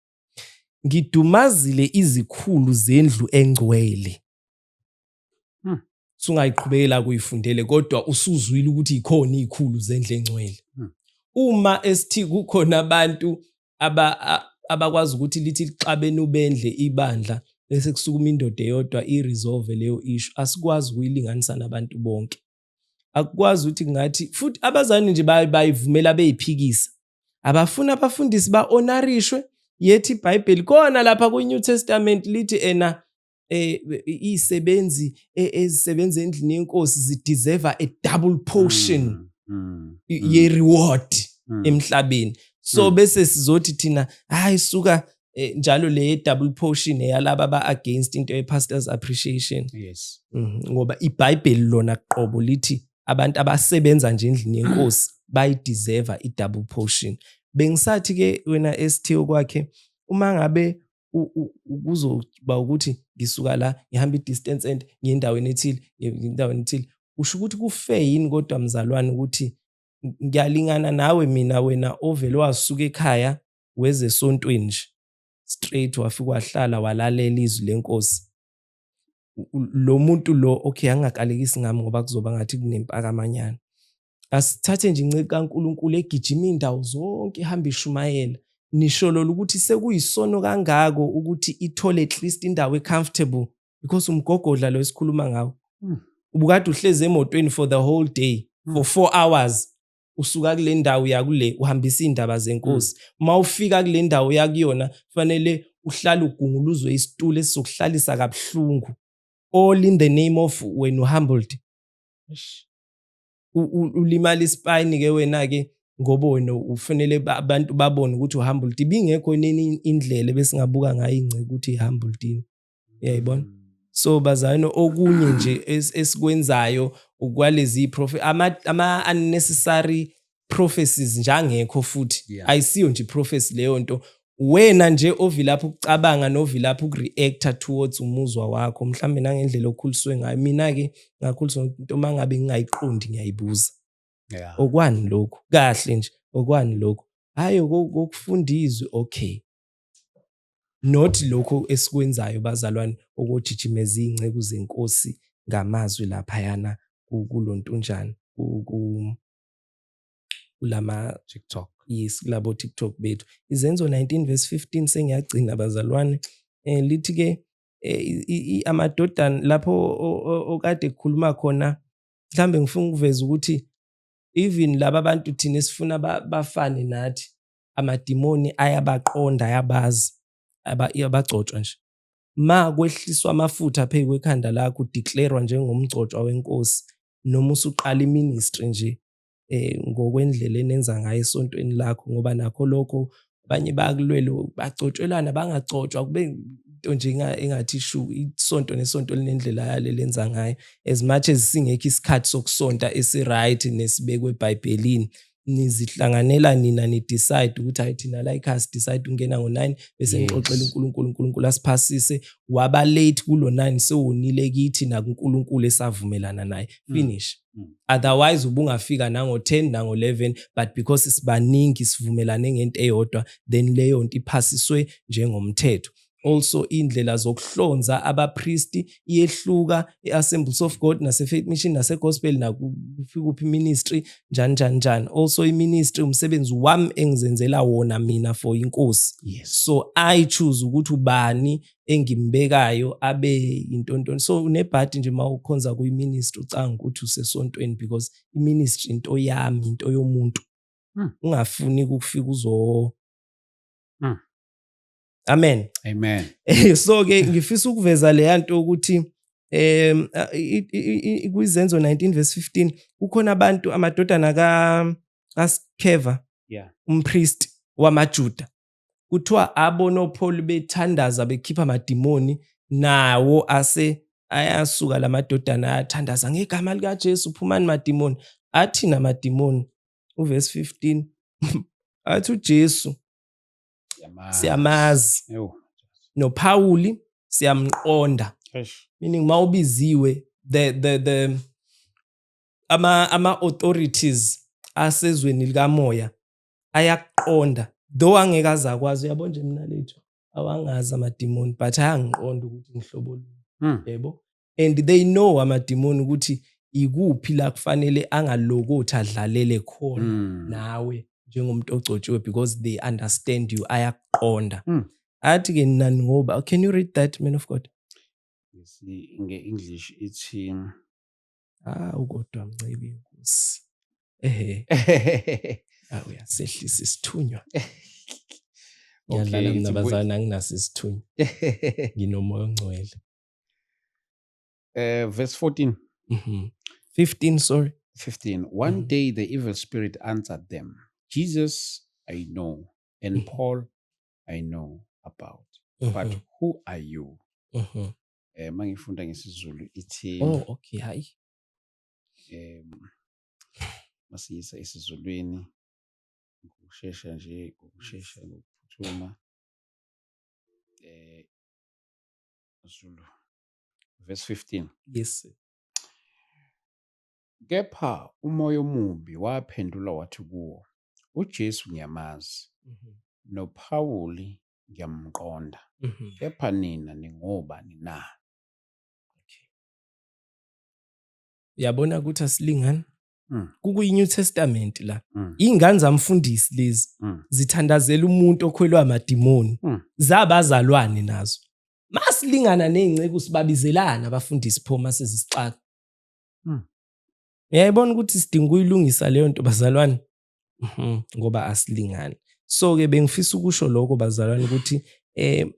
ngidumazile izikhulu zendlu engcwele hmm. sungayiqhubekela kuyifundele kodwa usuzwile ukuthi ikhona izikhulu zendlu engcwele hmm. uma esithi kukhona abantu aba abakwazi ukuthi lithi lixabene ubendle ibandla bese kusukuma indoda eyodwa i-resolve leyo issue asikwazi ukuyilinganisa nabantu bonke akukwazi ukuthi ngathi futhi abazali nje bayivumela beyiphikisa abafuni abafundisi ba-onarishwe yethi ibhayibheli kona lapha kwi-new testament lithi ena eh isebenzi e, ezisebenza endlini yenkosi zideserve a double portion mm, mm, mm. ye reward mm. emhlabeni so mm. bese sizothi thina hayi suka eh, njalo le double portion eyalaba ba against into ye pastors appreciation yes mm, ngoba iBhayibheli lona qobo lithi abantu abasebenza nje endlini yenkosi bayi deserve i double portion bengisathi ke wena ST okwakhe uma ngabe kuzoba ukuthi ngisuka la ngihamba i-distance and ngendaweni ethile ngendaweni ethile usho ukuthi kufe yini kodwa mzalwane ukuthi ngiyalingana nawe mina wena ovele wasuka ekhaya weze esontweni nje straight wafika wahlala walalela izwi lenkosi lo muntu lo okay angakalekisi ngami ngoba kuzoba ngathi kunempakamanyana asithathe nje inceke kaNkuluNkulu egijima indawo zonke ihamba ishumayela nisholola ukuthi sekuyisono kangako ukuthi ithole at least indawo ecomfortable because umgogodla lo esikhuluma ngawo hmm. ubukade uhlezi emotweni for the whole day for 4 hmm. hours usuka kule ndawo yakule uhambisa iy'ndaba zenkosi uma mm. ufika kule ndawo yakuyona kufanele uhlale ugunguluzwe isitulo esizokuhlalisa kabuhlungu all in the name of wena uhumbled ulimala isipayini ke wena ke ngoba wena ufanele abantu babone ukuthi uhumbled ibingekho nini indlela besingabuka ngayo ingceke ukuthi ihumbled uyayibona mm. so bazayini okunye nje esikwenzayo ukwalezi prophet ama, ama unnecessary prophecies njangekho futhi yeah. ayisiyo nje prophecy leyo nto wena nje ovilapha ukucabanga novilapha ukureacta towards umuzwa wakho mhlawumbe nangendlela okhuliswe ngayo mina-ke ngakhuliswa into uma ngabe ngingayiqondi ngiyayibuza yeah. okwani lokhu kahle nje okwani lokhu hhayi kokufunda izwi okay not lokho esikwenzayo bazalwane okojijimeza iy'nceku zenkosi ngamazwi laphayana kulo ntunjana kulama TikTok yes kulabo TikTok bethu izenzo 19 verse 15 sengiyagcina bazalwane eh lithi ke eh, amadodana lapho okade kukhuluma khona mhlambe ngifuna ukuveza ukuthi even laba bantu thina sifuna bafane nathi amadimoni ayabaqonda ayabazi abagcotshwa nje ma kwehliswa amafutha phezu kwekhanda lakho udeclarwa njengomgcotshwa wenkosi noma usuqala iministry nje eh ngokwendlela enenza ngayo esontweni lakho ngoba nakho lokho abanye bakulwele bagcotshelana bangagcotshwa kube into nje engathi shu isonto nesonto linendlela yale lenza ngayo as much as singekho isikhathi sokusonta esiright nesibekwe ebhayibhelini nizihlanganela nina ni decide ukuthi hayi thina la ikhaya si decide ukungena ngo 9 bese ngixoxela uNkulunkulu uNkulunkulu asiphasise waba late kulo 9 sewonile kithi na kuNkulunkulu esavumelana naye mm. finish mm. otherwise ubungafika nango 10 nango 11 but because sibaningi sivumelane ngento eyodwa then leyo nto iphasiswe njengomthetho Also indlela zokuhlonza abapristi iyehluka e-Assemblies of God nase-Faith Mission nase-Gospel nakuphi ministry njani njani njani. Also iministry umsebenzi wami engizenzela wona mina for inkosi. Yes. So I choose ukuthi ubani engimbekayo abe intontoni. So unebhadi nje uma ukhonza kuyiministry ucanga ukuthi usesontweni because iministry into yami, into yomuntu. Hmm. Ungafuni ukufika uzo Hmm. amen amen eh, so ke ngifisa ukuveza leya nto ukuthi um kwizenzo 19 verse 15 kukhona abantu amadodana kaskeva yeah. umpriest wamajuda kuthiwa abonopholi bethandaza bekhipha amadimoni nawo ase ayasuka la madodana ayathandaza ngegama likajesu phumani madimoni athina madimoni uvesi 15 athi ujesu siyamazi noPawuli siyamqonda meaning mawubiziwe the the the ama ama authorities asezweni likamoya ayaqonda though angeke azakwazi uyabo nje mina lethu awangazi amadimoni but ayangiqonda ukuthi ngihlobo luni hmm. yebo and they know amadimoni ukuthi ikuphi la kufanele angalokothi adlalele khona mm. nawe njengomuntu ogcotshiwe because they understand you ayakuqonda mm. athi ke nani ngoba can you read that man of god yes nge-english ithi ah ukodwa mncibi nkosi ehe ah, uyasehlisa isithunywa ngiyadlala okay, mina bazana anginaso isithunywa nginomoya ongcwele Uh, verse 14. Mm-hmm. 15, sorry. 15. One mm-hmm. day the evil spirit answered them Jesus, I know, and mm-hmm. Paul, I know about. Mm-hmm. But who are you? Mm-hmm. Eh, mangifunda ngesizulu ithi oh okay hayi um masiyisa esizulwini ngokushesha nje ngokushesha ngokuphuthuma eh Zulu verse 15 yes sir. kepha umoya omubi waphendula wathi kuwo uJesu ngiyamazi mm -hmm. noPawuli ngiyamqonda mm -hmm. kepha nina ningobani na okay. yabona ukuthi asilingani Mm. kukuyi-new testament la mm. iy'ngane zamfundisi lezi mm. zithandazela umuntu okhwelwa amadimoni mm. zabazalwane nazo masilingana ney'nceku sibabizelana abafundisi pho uma sezisixaka mm. yayibona ukuthi sidinga ukuyilungisa leyo nto bazalwane mhm, ngoba asilingani so-ke bengifisa ukusho lokho bazalwane ukuthi um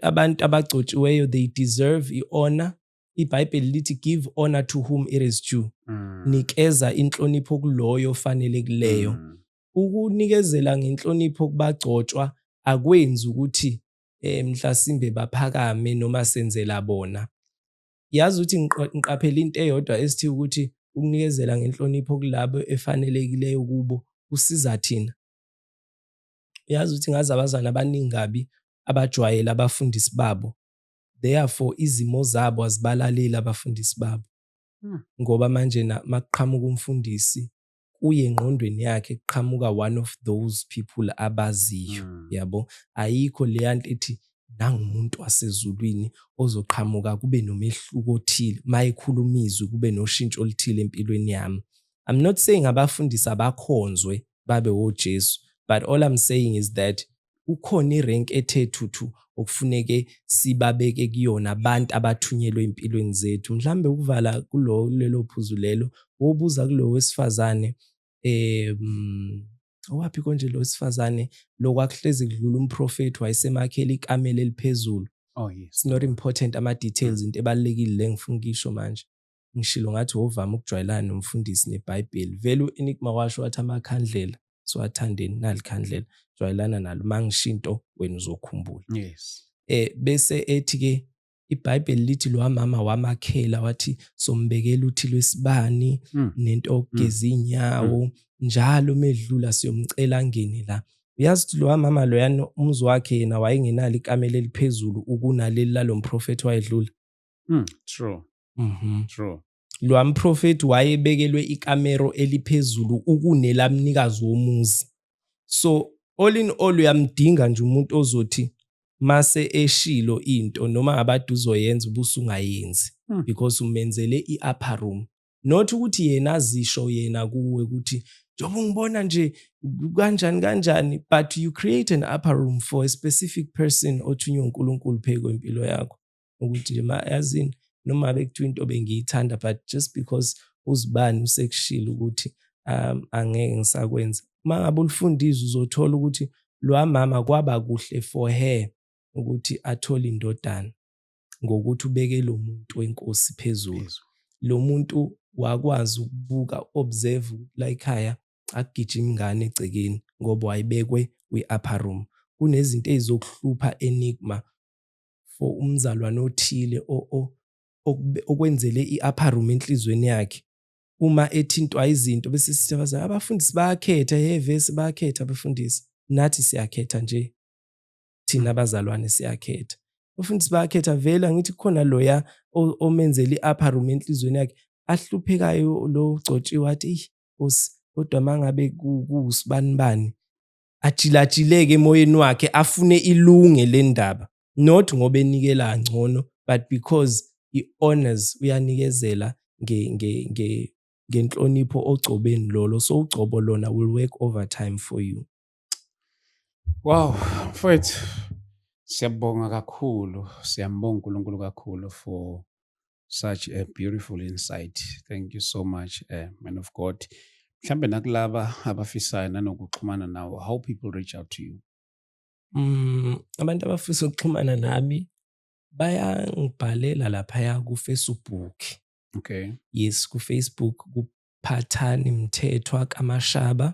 abantu abagcotshiweyo they deserve i-honor iBhayibheli lithi give honor to whom it is due. Mm. Nikeza inhlonipho kuloyo ofanele kuleyo. Mm. Ukunikezela ngenhlonipho kubagcotshwa akwenzi ukuthi eh mhlasimbe baphakame noma senzela bona. Yazi ukuthi ngiqaphela into eyodwa esithi ukuthi ukunikezela ngenhlonipho kulabo efanelekileyo kubo kusiza thina. Yazi ukuthi ngazi abazana abaningi kabi abajwayele abafundisi babo therefore izimo zabo azibalaleli abafundisi babo hmm. ngoba manje makuqhamuka umfundisi kuye engqondweni yakhe kuqhamuka one of those people abaziyo hmm. yabo ayikho leya nto ethi nangumuntu wasezulwini ozoqhamuka kube nomehluko othile mayekhuluma izwi kube noshintsho oluthile empilweni yami i'm not saying abafundisi abakhonzwe babe wojesu but all i'm saying is that kukhona irenki ethe thuthu okufuneke sibabeke kuyona abantu abathunyelwe empilweni zethu mhlambe ukuvala kulo lelo phuzu lelo wobuza kulo wesifazane um owaphi konje lo wesifazane lokwakuhlezi kudlula umprofethi wayesemakhela ikamela eliphezulu oh yes not important ama details into ebalekile lengifuna ukisho manje ngishilo ngathi wovama ukujwayelana nomfundisi nebhayibheli vele u-enigma washo wathi amakhandlela siwathandeni nalikhandlela jwayelana nalo uma ngisho into wena uzokhumbula yes eh bese ethi ke ibhayibheli lithi lo mama wamakhela wathi sombekela uthi lwesibani mm. nento hmm. ogeza inyawo mm. njalo medlula siyomcela ngene la uyazi ukuthi lowa mama loyana umzi wakhe yena wayengenalo ikamela eliphezulu ukunaleli lalo mprofethi wayedlula mm, true Mhm. true Lo amprofethi wayebekelwe ikamero eliphezulu ukunelabnikazi womuzi. So all in all uyamdinga nje umuntu ozothi mase eshilo into noma abade uzoyenza ubusungayenzi Hmm. because umenzele i-upper room. Not ukuthi yena azisho yena kuwe ukuthi njengoba ungibona nje kanjani kanjani but you create an upper room for a specific person othunywe uNkulunkulu phezu kwempilo yakho. ukuthi le yazini noma bekuthiwa into bengiyithanda but just because uzibani usekushilo ukuthi um angeke ngisakwenza uma ngabe ulifunda izwi uzothola ukuthi lwa mama kwaba kuhle for her ukuthi athole indodana ngokuthi ubeke lo muntu wenkosi phezulu lo muntu wakwazi ukubuka observe la ekhaya akugijima ingane egcekeni ngoba wayibekwe kwi-upper room kunezinto ezizokuhlupha enigma for umzalwane othile okwenzele i-upper room enhlizweni yakhe uma ethintwa izinto bese sithi abazali abafundisi bayakhetha yevesi bayakhetha abafundisi nathi siyakhetha nje thina abazalwane siyakhetha abafundisi bayakhetha vele angithi kukhona loya omenzela i-upper room enhlizweni yakhe ahluphekayo lo gcotshiwe athi eyi nkosi kodwa uma ngabe kuwusibanibani ajilatshileke emoyeni wakhe afune ilunge le ndaba not ngoba enikela ngcono but because i-honors uyanikezela ngenhlonipho ogcobeni lolo so ugcobo lona will work over time for you wow mfowethu siyabonga kakhulu siyambonga unkulunkulu kakhulu for such a beautiful insight thank you so much uh, man of god mhlambe nakulaba abafisayo nanokuxhumana nawo how people reach out to you mm, abantu abafisa ukuxhumana nami bayangibhalela laphaya kufacebook okay yes kufacebook kuphathani mthethwa kamashaba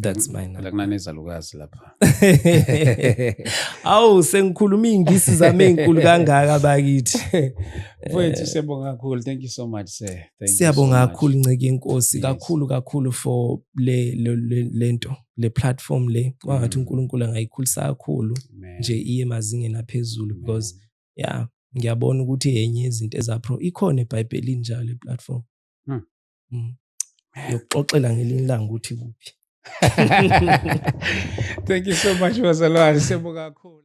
that's mm, mine la kunanezalukazi lapha awu sengikhuluma ingisi zami ezinkulu kangaka bakithi mfowethu siyabonga kakhulu thank you so much sir siyabonga kakhulu nceke inkosi kakhulu kakhulu for le lento le platform le kwangathi mm. uNkulunkulu angayikhulisa kakhulu nje iye mazingeni aphezulu because yeah ngiyabona ukuthi yenye izinto ezapro ikhona eBhayibhelini njalo leplatform hmm. mm. yokuxoxela ngelinye ilanga ukuthi kuphi thank you so much bazalwane sebo kakhulu